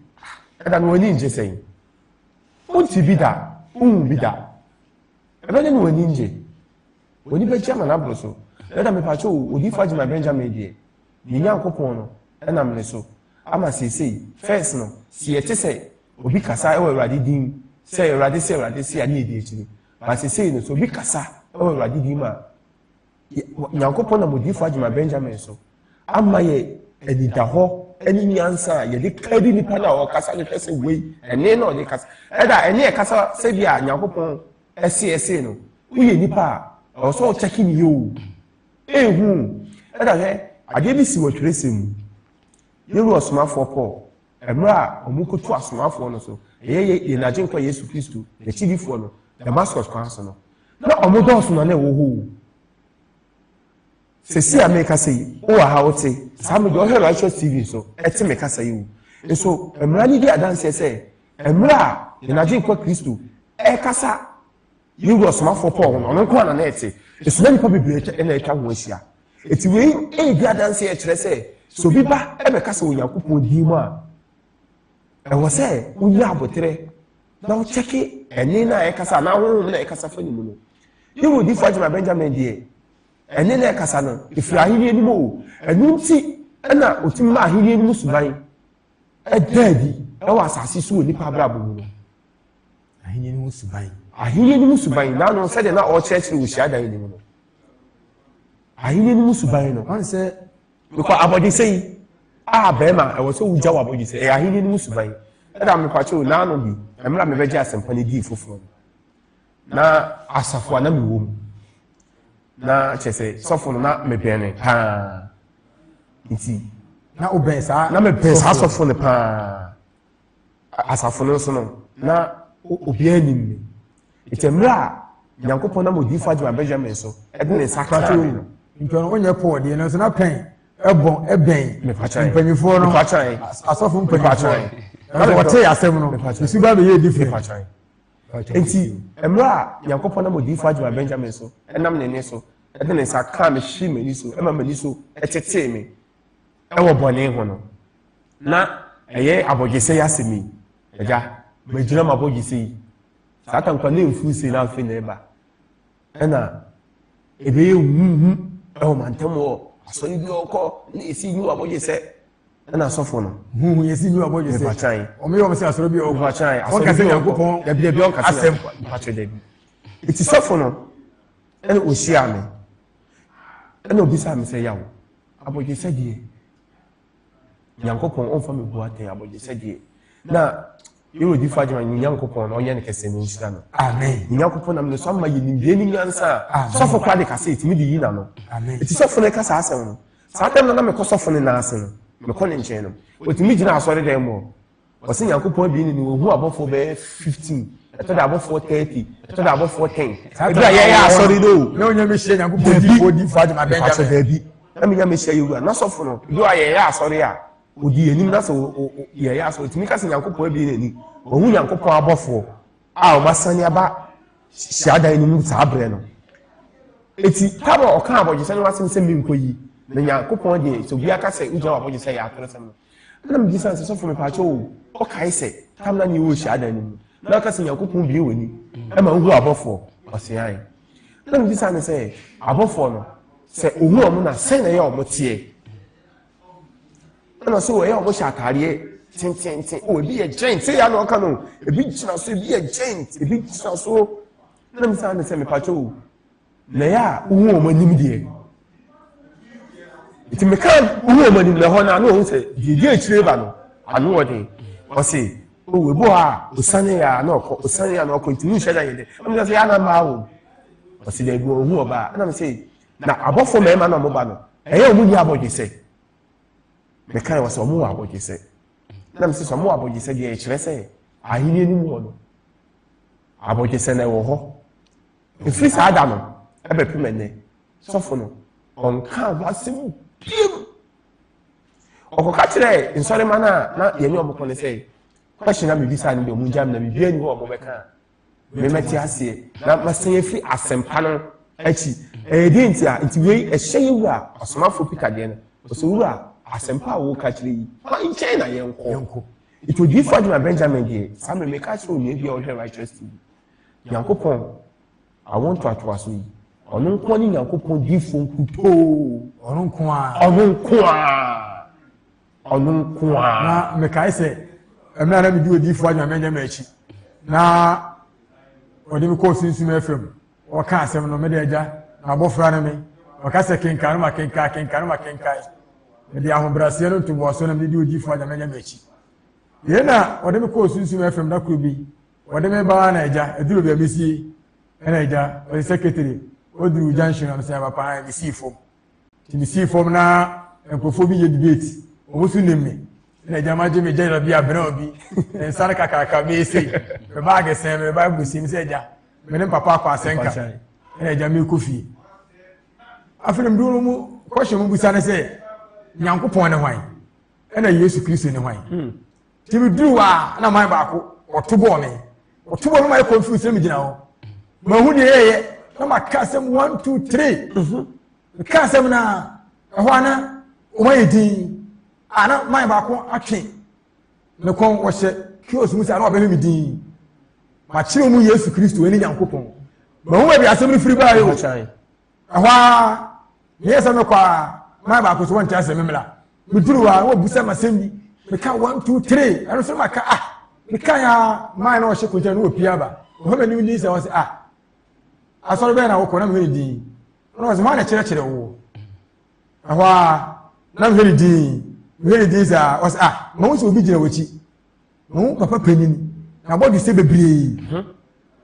Ɛda no w'ani ngye sɛn? Wonte bi da, wonhu bi da. Ɛbɛnyɛ ne w'ani ngye. W'ani bɛgye ama no aboro so. Dada mepakyɛ o, Odiyifo Agyemang Benjamin deɛ, yɛn Nyankopɔn no nam ne so ama seesei. First no, se yɛte sɛ obi kasa wɔ Awurade din mu sɛ, Awurade se, Awurade se a, ne yɛdi akyire. But seesei no, sɛ obi kasa wɔ Awurade din mu a, Nyankopɔn nam Odiyifo Agyemang Benjamin so ama yɛ anidahɔ ne nyansa a yɛde ka di nipa no a ɔkasa no hwɛ sɛ wei, ɛne na ɔde kasa. Ɛda, ɛne ɛkasa sɛdeɛ a Nyankopɔn Ɛse ɛse no woyɛ nipa a ɛwɔ sɛ ɔkyɛke ne yɛ o ehu ɛna hwɛ adeɛ bi si wɔ twerɛsɛm mu yɛwura ɔsomafoɔ Paul mmerɛ a wɔn kɔtu asomafoɔ no so ɛyɛ yɛn agyenkwa Yesu Kristo n'akyidifoɔ no Damascus kwan so no na wɔn dɔɔso na na ɛwɔ hɔ o Sɛsi a merekasa yi, wowɔ ha wote, saa me deɛ ɔhwɛ Righteous TV nso, ɛte me kasa yi o. Nso, mmara no di adanseɛ sɛ, mmerɛ a yɛn Agyenkwa Kristo ɛrekasa Yewura Ɔsomafoɔ Paul ho no, ɔno nko ara na na ɛte. Nso na nnipa bebree na atwa ho ahyia. Enti wei redi adanseɛ kyerɛ sɛ, sɛ obi ba bɛkasa wɔ Onyankopɔn din mu a, ɛwɔ sɛ wonya aboterɛ na wokyɛke ɛne no a ɛkasa anaa honhom no a ɛkasa fa ne mu no. Yɛwɔ Odiyifoɔ Agyema Benjamin deɛ, Ɛne na ɛkasa no, ɛfiri ahennie no mu o. Ɛno nti na ɔtumi ma ahennie no mu suban ɛda adi ɛwɔ asase so wɔ nnipa abrabɔ mu no. Ahennie no mu suban. Ahennie no mu suban, naano sɛdeɛ na ɔrekyerɛkyerɛ wɔ hyiadan no mu no. Ahennie no mu suban no, wɔn sɛ, mekɔ abɔdesɛ yi a bɛrima ɛwɔ sɛ wogya wɔ abɔdesɛ ɛyɛ ahennie no mu suban. Ɛda mekwakyɛw naano bi, mmerɛ a mebɛgye asɛmpa no dii foforɔ no. na asafo a na mewɔ mu na kyɛ sɛ sɔfo no na mebɛn no paa nti na wobɛn saa na mebɛn saa sɔfo no paa asafo no nso no na obiara nim me ɛkyɛ mmerɛ a nyankopɔn nam odiifo adwuma benjamin so ɛde ne nsa kra me no ntɔn wonyɛ pɔɔ deɛ no nso na pɛn ɛbɔ ɛbɛn mpanyifoɔ no asɔfo mpanyifoɔ na wɔte asɛm no ɛsu ba bɛyɛ different Enti, mmerɛ a Nyankopɔn nam odiyifoɔ Adwuma Benjamin so nam ne nne so de ne nsa kaa me hwee m'ani so ma m'ani so tetee me wɔ bɔne ho no, na ɛyɛ abɔgyesɛ yi asɛm yi, Agya, magyina m'abɔgyesɛ yi. Saa atankwa no mfuu sei na afei na ɛreba. ɛna ɛbɛyɛ huhu ɛwɔ mantam wɔ asɔre bi ɔkɔ na ɛsi nyiwa bɔgye sɛ ɛna asɔfo no huhu yɛsi nyiwa bɔgye sɛ mpakyan ɔmo yɛ ɔmo sɛ asɔre bi ɔkɔ mpakyan ɔka sɛ nyankopɔn dabi dabi ɔka sɛ mpakyan dabi ɛti sɔfo no ɛna ɔhyia me ɛna ɔbisa me sɛ yawo abɔgye sɛ deɛ nyankopɔn ɔmfa me bu atɛn abɔgye sɛdeɛ na yɛwɔ difo agyema ne nyankopɔn na ɔnyɛ ne kɛsɛ ne nhyira no amen ne nyankopɔn nam ne so ama yɛ nimdeɛ ne nyansa a sɔfo kora de kasa ɛtumi de yi na no amen ɛti sɔfo no ɛka saa asɛm no saa dɛm no na mekɔ sɔfo no naase no mekɔ ne nkyɛn no ɔtumi gyina asɔre dɛn mu wɔse nyankopɔn abien ni no wɔhu abɔfoɔ bɛyɛ 15 ɛtɔ da abɔfoɔ 30 ɛtɔ da abɔfoɔ 10 ɛberɛ a yɛyɛ asɔre no o na ɔnya mehyia nyankopɔn difoɔ difoɔ adwuma bɛngyame daabi na menya mehyia yɛwura na sɔfo no ɛberɛ a yɛyɛ asɔre a ɔdi anim na sɛ yɛyɛ asɔre tumi ka sɛ nyankopɔn abien ani wɔhu nyankopɔn abɔfoɔ a wɔasane aba hyiadan no mu saa berɛ no eti kaba ɔka abɔgyesɛ no asɛm sɛ menkɔ yi na nyankopɔn deɛ sɛ obi aka sɛ wogyina wɔ abɔgyesɛ yɛ atoro sɛm no ɛna megye sɛ sɛ sɔfo mepaakyɛ o ɔkae sɛ tam na ne wɔ hyiadan no mu na ɔka sɛ nyankopɔn bie w'ani ɛma wohu abɔfoɔ ɔseae na megye sɛ ne sɛ abɔfoɔ no sɛ ɔhu ɔmo na sɛn na ɛyɛ ɔmo teɛ ɛna so ɛyɛ ɔmo hyɛ ataadeɛ tententen o ebi yɛ giant sɛ yɛ anɔka no ebi gyina so ebi yɛ giant ebi gyina so ɛna mi san ne sɛ mepa kyɛw o na yɛ a wohu ɔmo anim deɛ nti meka wohu ɔmo anim na ɛhɔ no ano ɔho sɛ deɛ akyire ba no ano wɔ den ɔse o ebi hɔ a osane yɛ a na ɔkɔ osane yɛ a na ɔkɔ nti mu nhyɛ da yɛ dɛ ɛna mi sɛ yɛ ana maa wɔ ɔse dɛ ebi ɔho ɔbaa ɛna mi sɛ. Na abɔfoɔ mmarima no a wɔba no, ɛyɛ wɔn nni abɔgyesɛ. Mekae wɔ sɛ wɔn wɔ abɔgyesɛ. Na mese sɛ wɔn wɔ abɔgyesɛ deɛ ɛkyerɛ sɛ ahenni no mu hɔ no, abɔgyesɛ na ɛwɔ hɔ. Ɛfiri saa da no, ɛbɛpem ɛnnɛ, sɔfo no, ɔnkaa ho asɛm biom. Ɔkɔka kyerɛɛ nsɔrema no a na yɛne ɔmo kɔ no sɛ, question na mebisa no deɛ ɔmo gya me na biribiara ni hɔ a ɔmo bɛka a, memɛte aseɛ na masan afiri asɛmpa no akyi ɛyɛ deɛ nti a nti wei ɛhyɛ yɛ wura ɔsomafoɔ pita deɛ no ɔsɛ wura asɛmpa a wɔka kyerɛ yi ma nkyɛn na yɛnkɔ nti odiyifoɔ adwuma benjamin deɛ saa mmerɛ meka kyerɛ onua bi a ɔhwɛ righteous tv nyankopɔn awo ntoatoa so yi ɔno nko ne nyankopɔn diyifoɔ nkutoo ɔno nko a ɔno nko a ɔno nko ara. na mekae sɛ mmerɛ a na medi odiyifoɔ anya mɛnyɛ m'akyi na ɔde me kɔɔ sunsum afam ɔka asɛm no mede agya na abɔfra no me ɔka sɛ kenkan no ma kenkan kenkan no ma kenkan mede ahobrɛaseɛ no ntoboasoɔ na mede di odiyifoɔ anya mɛnyɛ m'akyi yei na ɔde me kɔɔ sunsum afam da koro bi ɔde me baa na agya aduru baabi sie ɛna agya ɔde sɛkretari ɔduru junction na mesɛ papa mesii fam Nti mesii fam na nkurɔfoɔ bi yɛ debate. Wɔn nso nim me. Na agya ma gye me gyɛla bi abena obi. Ne nsa no kakraka bɛyɛ sei. Me baage sɛn me Bible si me sɛ agya. Me ne papa akɔ asɛnka. Na agya mekɔ fie. Afei na meduro no mu kɔhyɛ mu busa ne sɛ Nyankopɔn ne hwan? Ɛna Yesu Kristo ne hwan? Hmm. Nti meduru hɔ a na man baako wɔto bɔɔ me wɔto bɔɔ me ma yɛ confuse na megyina hɔ mahu deɛ yɛyɛ na maka asɛm one two three meka asɛm no a ɛhɔ a na wɔn ayɛ din a na man baako atwe ne kɔn wɔhyɛ kios mu sɛ a na wɔbɛhwɛ me din makyerɛ mu yesu kristo ɛne nyankopɔn mahu baabi asɛm no firi baayɛ o ɛhɔ ara meyɛ sɛ mekɔ a maa baako so wɔnte asɛm mmla meduru hɔ a na wɔbusa ma sɛm bi meka one two three ɛno so maka ah meka ya maa na ɔhyɛ kogya na wɔpie aba ɔhɔ m'anim din sɛ ɔsɛ ah asɔre bɛyɛ na wokɔ na mehwɛ ne din na ɔsɛ hɔ na kyerɛkyerɛ wo ɛhɔ a na mehwɛ ne din mehwɛ ne din sɛ ɔsɛ ah ma wo sɛ obi gyina w'akyi na wo papa panyin n'abɔdwe sɛ bebree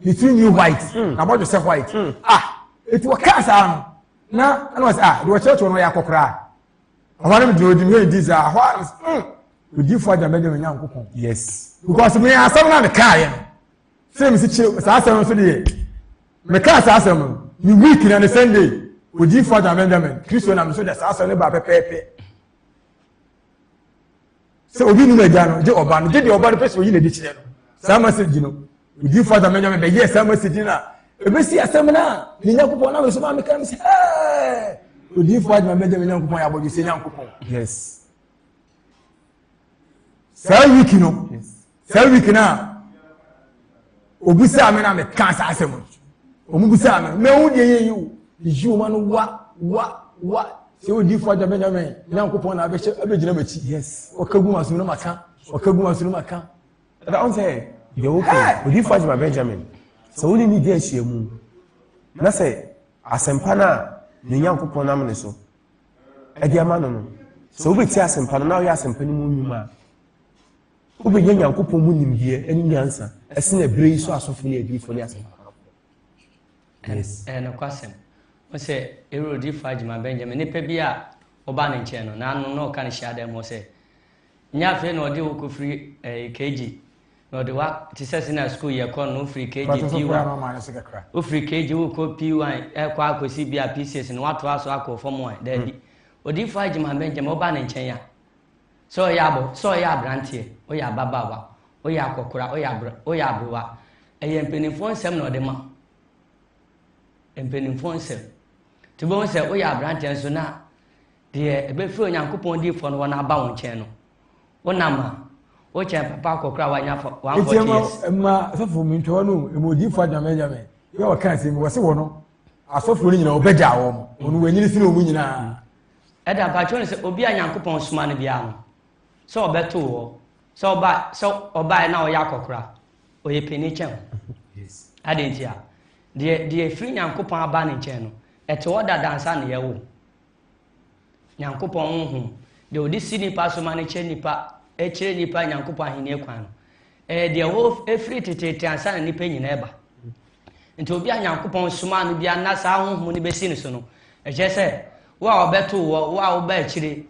ne tiri nwi white n'abɔdwe sɛ white ah eti wɔkaa saa no na ɛna wɔsɛ ah deɛ wɔkyerɛkyerɛ no ɔyɛ akɔkoraa ɔhɔ no deɛ ɔdi mu edi saa hɔ a odiifo agya bɛgye no nyankopɔn yes because me asɛm na mekaa yɛ no sɛ mesi kyerɛ saa asɛm no so deɛ mekaa saa asɛm no ne week na ne sunday odiifo agya benjamin kristo nam so de saa asɛm no ba pɛpɛɛpɛ sɛ obi num agya no gye ɔba no gye deɛ ɔba no pɛ sɛ oyi na ɛde kyerɛ no saa message no odi fata mɛnya me bɛyɛ saa message no a ɛbɛsi asɛm no a ne nyankopɔn na mesoma meka me sɛ ɛɛ odi fo adwuma mɛgya me nyankopɔn yɛ abɔdwe sɛ nyankopɔn yes saa wiki no saa week no a obisaa me na mekaa saa asɛm no ɔmo bisaa me mɛhu deɛ yɛyi wo yɛyi wo ma no wa wa wa sɛ wodi fo agya bɛnyame nyankopɔn na abɛhyɛ abɛgyina m'akyi yes ɔka gu masom no maka ɔka gu masom no maka ɛda wo sɛ deɛ wokɛ odi fo agya benjamin sɛ wone ne di ahyia mu na sɛ asɛmpa no a ne nyankopɔn nam ne so ɛde ama no no sɛ wobɛti asɛmpa no na woyɛ asɛmpa no mu nnwuma a Wobɛnya Nyankopɔn mu nimdeɛ ne nyansa ɛsene ɛberɛ yi so asɔfo ne adiyifoɔ ne asɛmpakafo. Ɛyɛ nokwasɛm. Wo sɛ Herode faa gyima Benjamin, nipa bi a ɔbaa ne nkyɛn no, n'ano na ɔka no hyia dan mu sɛ, nyɛ afei na ɔde wo kɔfiri eh, KG, na ɔde wa te sɛ sɛ na sukuu yɛ kɔ no wofiri KG P1 wofiri KG wokɔ P1 ɛkɔ eh, akɔsi bi a P6 na watoa so akɔ fam a daabi. Mm. Odiyifoɔ agyima Benjamin ɔbaa ne nkyɛn a Sɛ ɔyɛ abɔ, sɛ ɔyɛ aberanteɛ, ɔyɛ ababaawa, ɔyɛ akɔkora, ɔyɛ abre, ɔyɛ abrewa, ɛyɛ mpaninfoɔ nsɛm na ɔde ma. Mpaninfoɔ nsɛm. Nti wobɛhu sɛ woyɛ aberanteɛ nso na deɛ ɛbɛfiri Onyankopɔn diifoɔ no hɔ no aba wo nkyɛn no, wonam a, wokyɛn papa akɔkora a wanya fa one forty years. Eti ɛma sɔfo mi ntɔɔ no ɛma odiifoɔ adwamɛ adwamɛ yɛ ɔka asɛm wɔsi wɔ no asɔfoɔ no nyinaa ɔbɛgya wɔn wɔn wɔn anyini sini wɔn nyinaa. Ɛda mpa kyerɛ no sɛ obi a Nyankopɔn soma no biara no, sɛ ɔbɛto wo hɔ, sɛ ɔba, sɛ ɔbaeɛ na ɔyɛ akɔkora, ɔyɛ panin kyɛn wo. Adɛn nti a? Deɛ deɛ ɛfiri Nyankopɔn aba ne nkyɛn no, ɛte hɔ dada ansa na yɛwo. Nyankopɔn honhom, deɛ ɔde si nipa so ma no kyerɛ nipa, ɛkyerɛ nipa Nyankopɔn ahenni kwan no, ɛyɛ deɛ ɛwɔ ɛfiri teteete ansa na nipa nyinaa ɛba. Nti obi a Nyankopɔn somaa no bia na saa honhom no bɛsi ne so no, ɛkyerɛ sɛ wo a ɔbɛtoo wɔ, wo a woba akyire,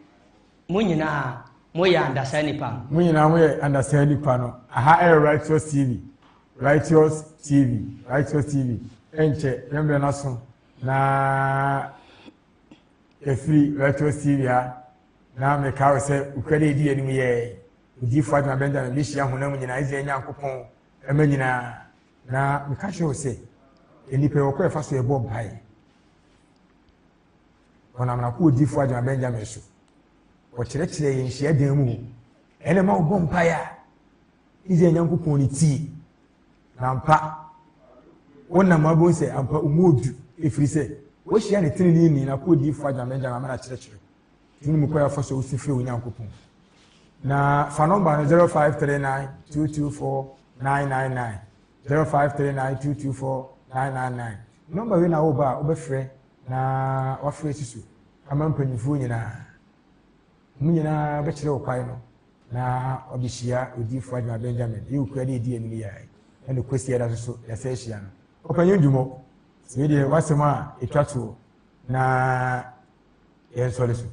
mo nyinaa moyɛ andasaa nipa no. Mo nyinaa moyɛ andasaa nipa no. Aha ɛyɛ Righteous TV. Righteous TV. Righteous TV. Ɛnkyɛ yɛn mmerɛ no aso na ɛfiri Righteous TV ha na meka wo sɛ wokura dɛ ɛdi anim yɛɛ odiyifoɔ adwuma Benjamin bɛhyia honam nyinaa Israel Nyankopɔn ɛma nyinaa Na meka kyerɛ wo sɛ, nnipa wɔ kɔ ɛfa so ɛbɔ mpaeɛ. Wɔnam n'akoodifoɔ agyina Benjamin so. Wɔkyerɛkyerɛ yɛn nhyia dan mu. Ɛna ma wɔbɔ mpaeɛ a, Israel Nyankopɔn ne tie. Na mpa, wɔnam abom sɛ ampa ɔmu odu, ɛfiri sɛ wɔahyia ne tenenee ni n'akoodifoɔ agyina Benjamin ama no akyerɛkyerɛ. Tumi mu kwan a wɔfa so su frɛ Onyankopɔn. Na fa nɔmba no 0539224999, 0539224999. Nɔmba wei na woba a wobɛfrɛ na wafrɛ asi so ama mpanimfoɔ nyinaa. Wɔn nyinaa bɛkyerɛ wo kwan no na wɔabɛhyia odiyifoɔ Adwuma Benjamin. Yɛ okura de ɛdi anim yɛae ɛne kwasi ɛda so so yɛsɛ ahyia no. Ɔpanyin Dumɔ, wei deɛ wasɛm a ɛtwa toɔ na yɛn nsɔre so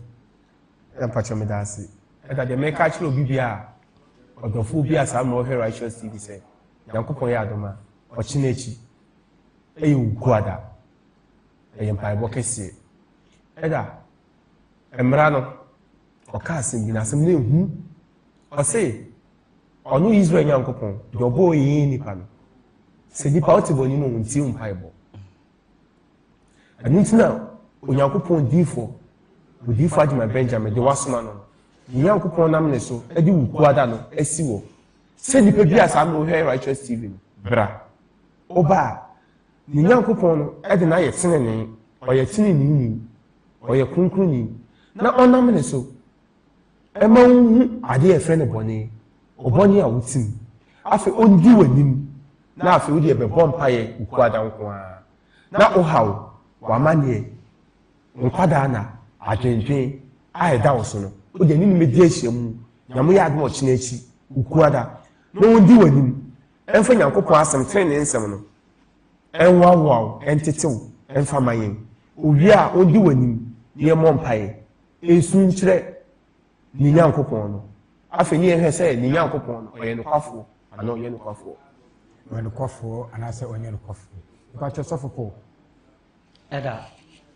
na mpakyɛ meda ase ɛda deɛ mɛka akyerɛ obi bi a ɔdɔfoɔ bi a saa mmerɛ ɔhwɛ righteous tv sɛ nyankopɔn yɛ adom a ɔkyena akyi ɛyɛ ogu ada ɛyɛ mpaebɔ kɛseɛ ɛda mmara no ɔka asɛm bi na asɛm no ɛhu ɔse ɔno israel nyankopɔn deɛ ɔbɔɔ yɛyɛ nipa no sɛ nipa wote bɔ anim ɔntie mpaebɔ Ɛno nti na Onyankopɔn diifo, odiifo Adwuma Benjamin de wasoma no no, ne Nyankopɔn nam ne so de wo kuada no asi wɔ sɛ nipa bi a saa na wohwɛ Righteous TV no, bra. Woba a, ne Nyankopɔn no de no ayɛ tenenee, ɔyɛ tenenee ni, ɔyɛ kronkronni, na ɔnam ne so ɛma wohu adeɛ a ɛfrɛ no bɔne ɔbɔne a wote mu afei ɔndi w'anim na afei wode ɛbɛbɔ mpaeɛ wokuada nko ara na wohaw w'amanneɛ nkwadaa na adwendwen a ɛda wo so no wode ne nim di ahyia mu na moyɛ adom ɔkyena akyi wokuada na ɔndi w'anim ɛmfa nyankopɔn asɛm tene ne nsɛm no ɛnwawoa wo ɛntetew ɛmfa ma yɛn owie a ɔndi w'anim yɛmmɔ mpaeɛ nsu nkyerɛ ne nyankopɔn no afei ne yɛhwɛ sɛ ne nyankopɔn no ɔyɛ nokwafoɔ anaa ɔnyɛ nokwafoɔ ɔyɛ nokwafoɔ anaasɛ ɔnyɛ nokwafoɔ mpakyɛ sɔfo paul ɛda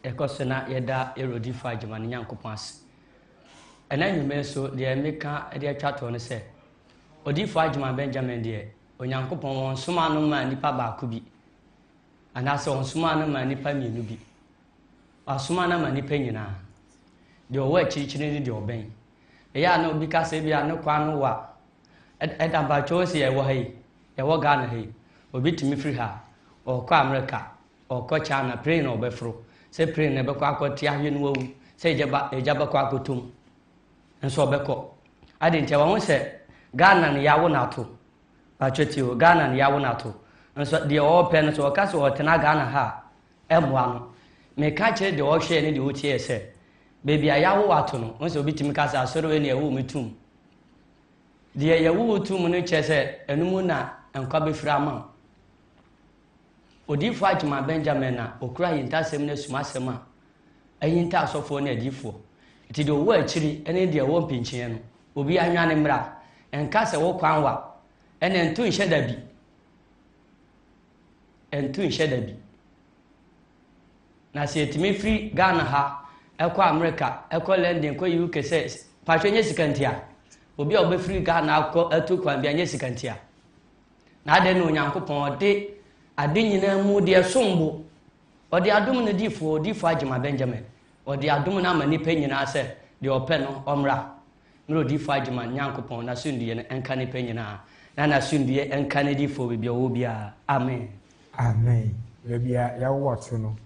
ɛkɔ so na yɛda ɛrodifo agyema ne nyankopɔn ase ɛna nnwuma so deɛ meka de atwa toɔ no sɛ odiifo agyema benjamin deɛ onyankopɔn wɔn soma no maa nipa baako bi anaasɛ wɔn soma no maa nipa mmienu bi Wasoma no ama nnipa nyinaa, deɛ ɔwɔ akyirikyiri ne deɛ ɔbɛn. Ɛyɛ a na obi ka sɛ ebia ne kwan no wa. Ɛda mpakyɛ ɔsi yɛwɔ ha yi, yɛwɔ Ghana ha yi, obi tumi firi ha, ɔrekɔ Amerika, ɔrekɔ China, plane na ɔbɛforo. Sɛ plane na ɛbɛkɔ akɔ te ahwe no wawu, sɛ egyaba egya bɛkɔ akɔtom, nso ɔbɛkɔ. Ade nti wɔn sɛ Ghana no yɛawo no ato. Mpakyɛ tie o, Ghana no yɛawo no ato. Nso deɛ ɔrepɛ no sɛ ɔka sɛ ɔretena Ghana ha a, mmoa no. Meka kyerɛ deɛ ɔhwɛɛ ne deɛ ɔtieɛ sɛ, Baabi a yɛawo ato no, wohu sɛ obi tumi ka sɛ, Asɔre wei na yɛwoo me toom. Deɛ yɛwoo wo toom no kyerɛ sɛ ɛno mu na nkwa bɛfiri ama wo. Odiyifoɔ Agyeman Benjamin na ɔkura ahintasɛm ne asumasɛm a ahinta asɔfoɔ ne adiyifoɔ. Nti deɛ ɔwɔ akyiri ne deɛ ɔwɔ mpinkyeɛ no, obiara nnwane mmra. Nka sɛ wo kwan wa, ɛnna nto nhyɛ da bi. ɛntu nhyɛ da bi. Na sɛ yɛtumi firi Ghana ha ɛkɔ Amerika, ɛkɔ London, ɛkɔ UK sɛ patro nyɛ sika nti a, obi a ɔbɛfiri Ghana akɔ atu kwan bi anyɛ sika nti a. Na adɛn na Onyankopɔn ɔde ade nyinaa mu deɛ som bo. Ɔde adom no difoɔ, odifoɔ Agyema Benjamin, ɔde adom no ama nnipa nyinaa sɛ deɛ ɔpɛ no ɔmmra. Mmerɛ odiyifoɔ Agyeman Nyankopɔn n'asomdwoeɛ no nka nnipa nyinaa, na n'asomdwoeɛ nka n'adiyifoɔ wɔ baabi a wɔwɔ biara. Amen. Amen. Baabi a yɛwowɔ to no,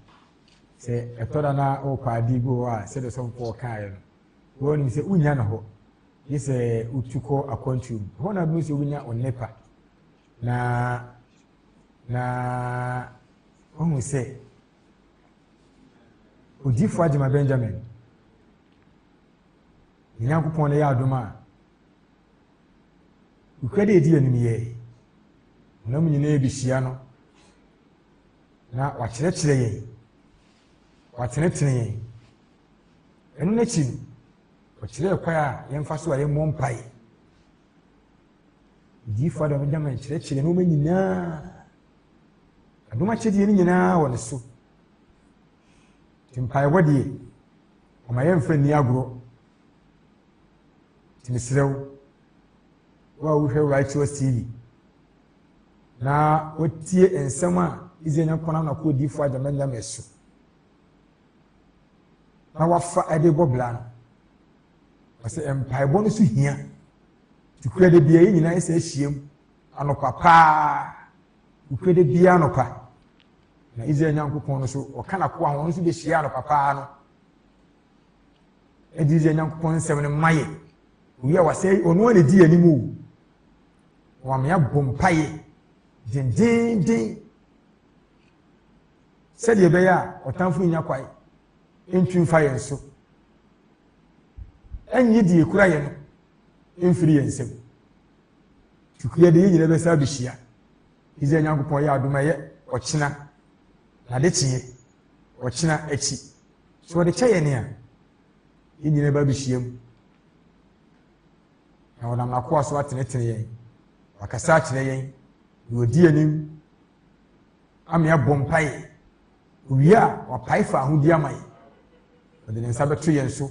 sɛ ɛtɔ da na wopɛ adeɛ bi wɔ hɔ a, sɛdeɛ sɔmfoɔ kaeɛ no, wɔnim sɛ wonnya no hɔ, gye sɛ wotu kɔ akwantuo mu. Ɛhɔ na bɛhu sɛ wonya ɔnnepa. Na na wohu sɛ odiyifoɔ Agyema Benjamin Yɛn Nyankopɔn na yɛ adom a Okura de edi anim yɛ. Honam nyinaa behyia no, na wakyerɛkyerɛ yɛn, watenetene yɛn. Ɛno n'akyi no, ɔkyerɛɛ kwan a yɛmfa so a yɛmmɔ mpae. Odiyifo Adam agya ma nkyerɛkyerɛ nneɛma nyinaa. Adom akyɛdeɛ no nyinaa wɔ ne so. Nti mpaebɔ deɛ, ɔma yɛmfa nni agorɔ. Nti mesrɛ wo, wo a wohwɛ Righteous TV na wotie nsɛm a Israel Nyankopɔn nam na kɔ odiyifoɔ agyama nyame so na wafa de bɔ bra no ɔsɛ mpaebɔ no so hia nti kura da bia yɛ nyinaa ɛsɛ ahyiam anɔpa paa Nokorɛ da biara anɔpa, na Israel Nyankopɔn no so ɔka n'akoa ho, ɔno nso bɛhyia anɔpa paa no ɛde Israel Nyankopɔn nsɛm no ma yɛ owie a wasɛ ɔno a na ɛdi anim o wɔame abɔ mpaeɛ dendenden sɛdeɛ ɛbɛyɛ a ɔtamfo nya kwae ntwi mfa yɛn so ɛnyɛ deɛ ɛkura yɛn no mfiri yɛn nsam Tukui yɛ de yɛn nyinaa bɛsa abɛhyia. Israel Nyankopɔn yɛ adom ɛyɛ ɔkyena na de kyeɛ ɔkyena akyi. So wɔde kyɛ yɛn a yɛn nyinaa bɛ abɛhyia mu na wɔnam n'akoa so atenetene yɛn wakasa akyerɛ yɛn na wɔdi anim ama yɛabɔ mpaeɛ owie a wapae fa ahodi ama yɛn wɔde ne nsa bɛto yɛn so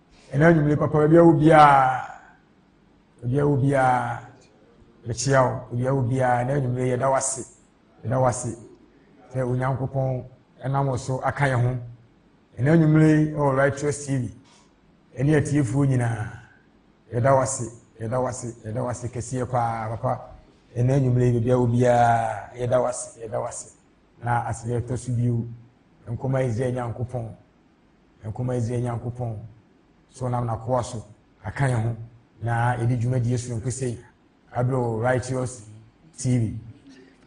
ɛna anwummere papa baabi a obiara baabi a obiara mekyia wo baabi a obiara ɛna anwummere yɛda wase yɛda wase sɛ onyankopɔn ɛnam wɔ so aka yɛn ho ɛna anwummere ɛwɔ righteous tv ɛne atiefoɔ nyinaa yɛda wase yɛda wase yɛda wase kɛseɛ paa papa ɛna anwummere baabi a obiara yɛda wase yɛda wase na asɛdeɛ ɛtɔ so bio nkɔma israel nyankopɔn Nkomazie Nyankopɔn, sɛ ɔnam n'akoa so aka yɛn ho na ɛdi dwumadie sononko sei abrɛ wɔ Righteous TV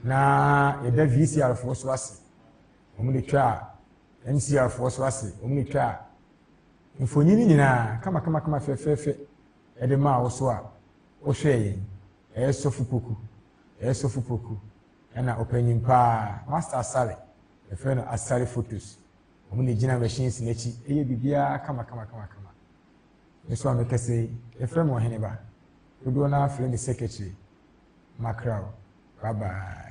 na ɛda VCR foɔ so ase wɔn de twa MCR foɔ so ase wɔn de twa mfonyini nyinaa kamakamakama fɛfɛɛfɛ ɛde maa wo so a wohwɛ yɛn ɛyɛ sɔfo poku ɛyɛ sɔfo poku ɛna ɔpanyin paa master asare ɛfɛ no asare photos Wɔn na egyina machines no akyi yɛ biribiara kamakamakamakama. Me nso a mekasa yi, yɛfrɛ me Ɔheneba. Dodoɔ no ara frɛ me Secretary. Makra o. Bye bye.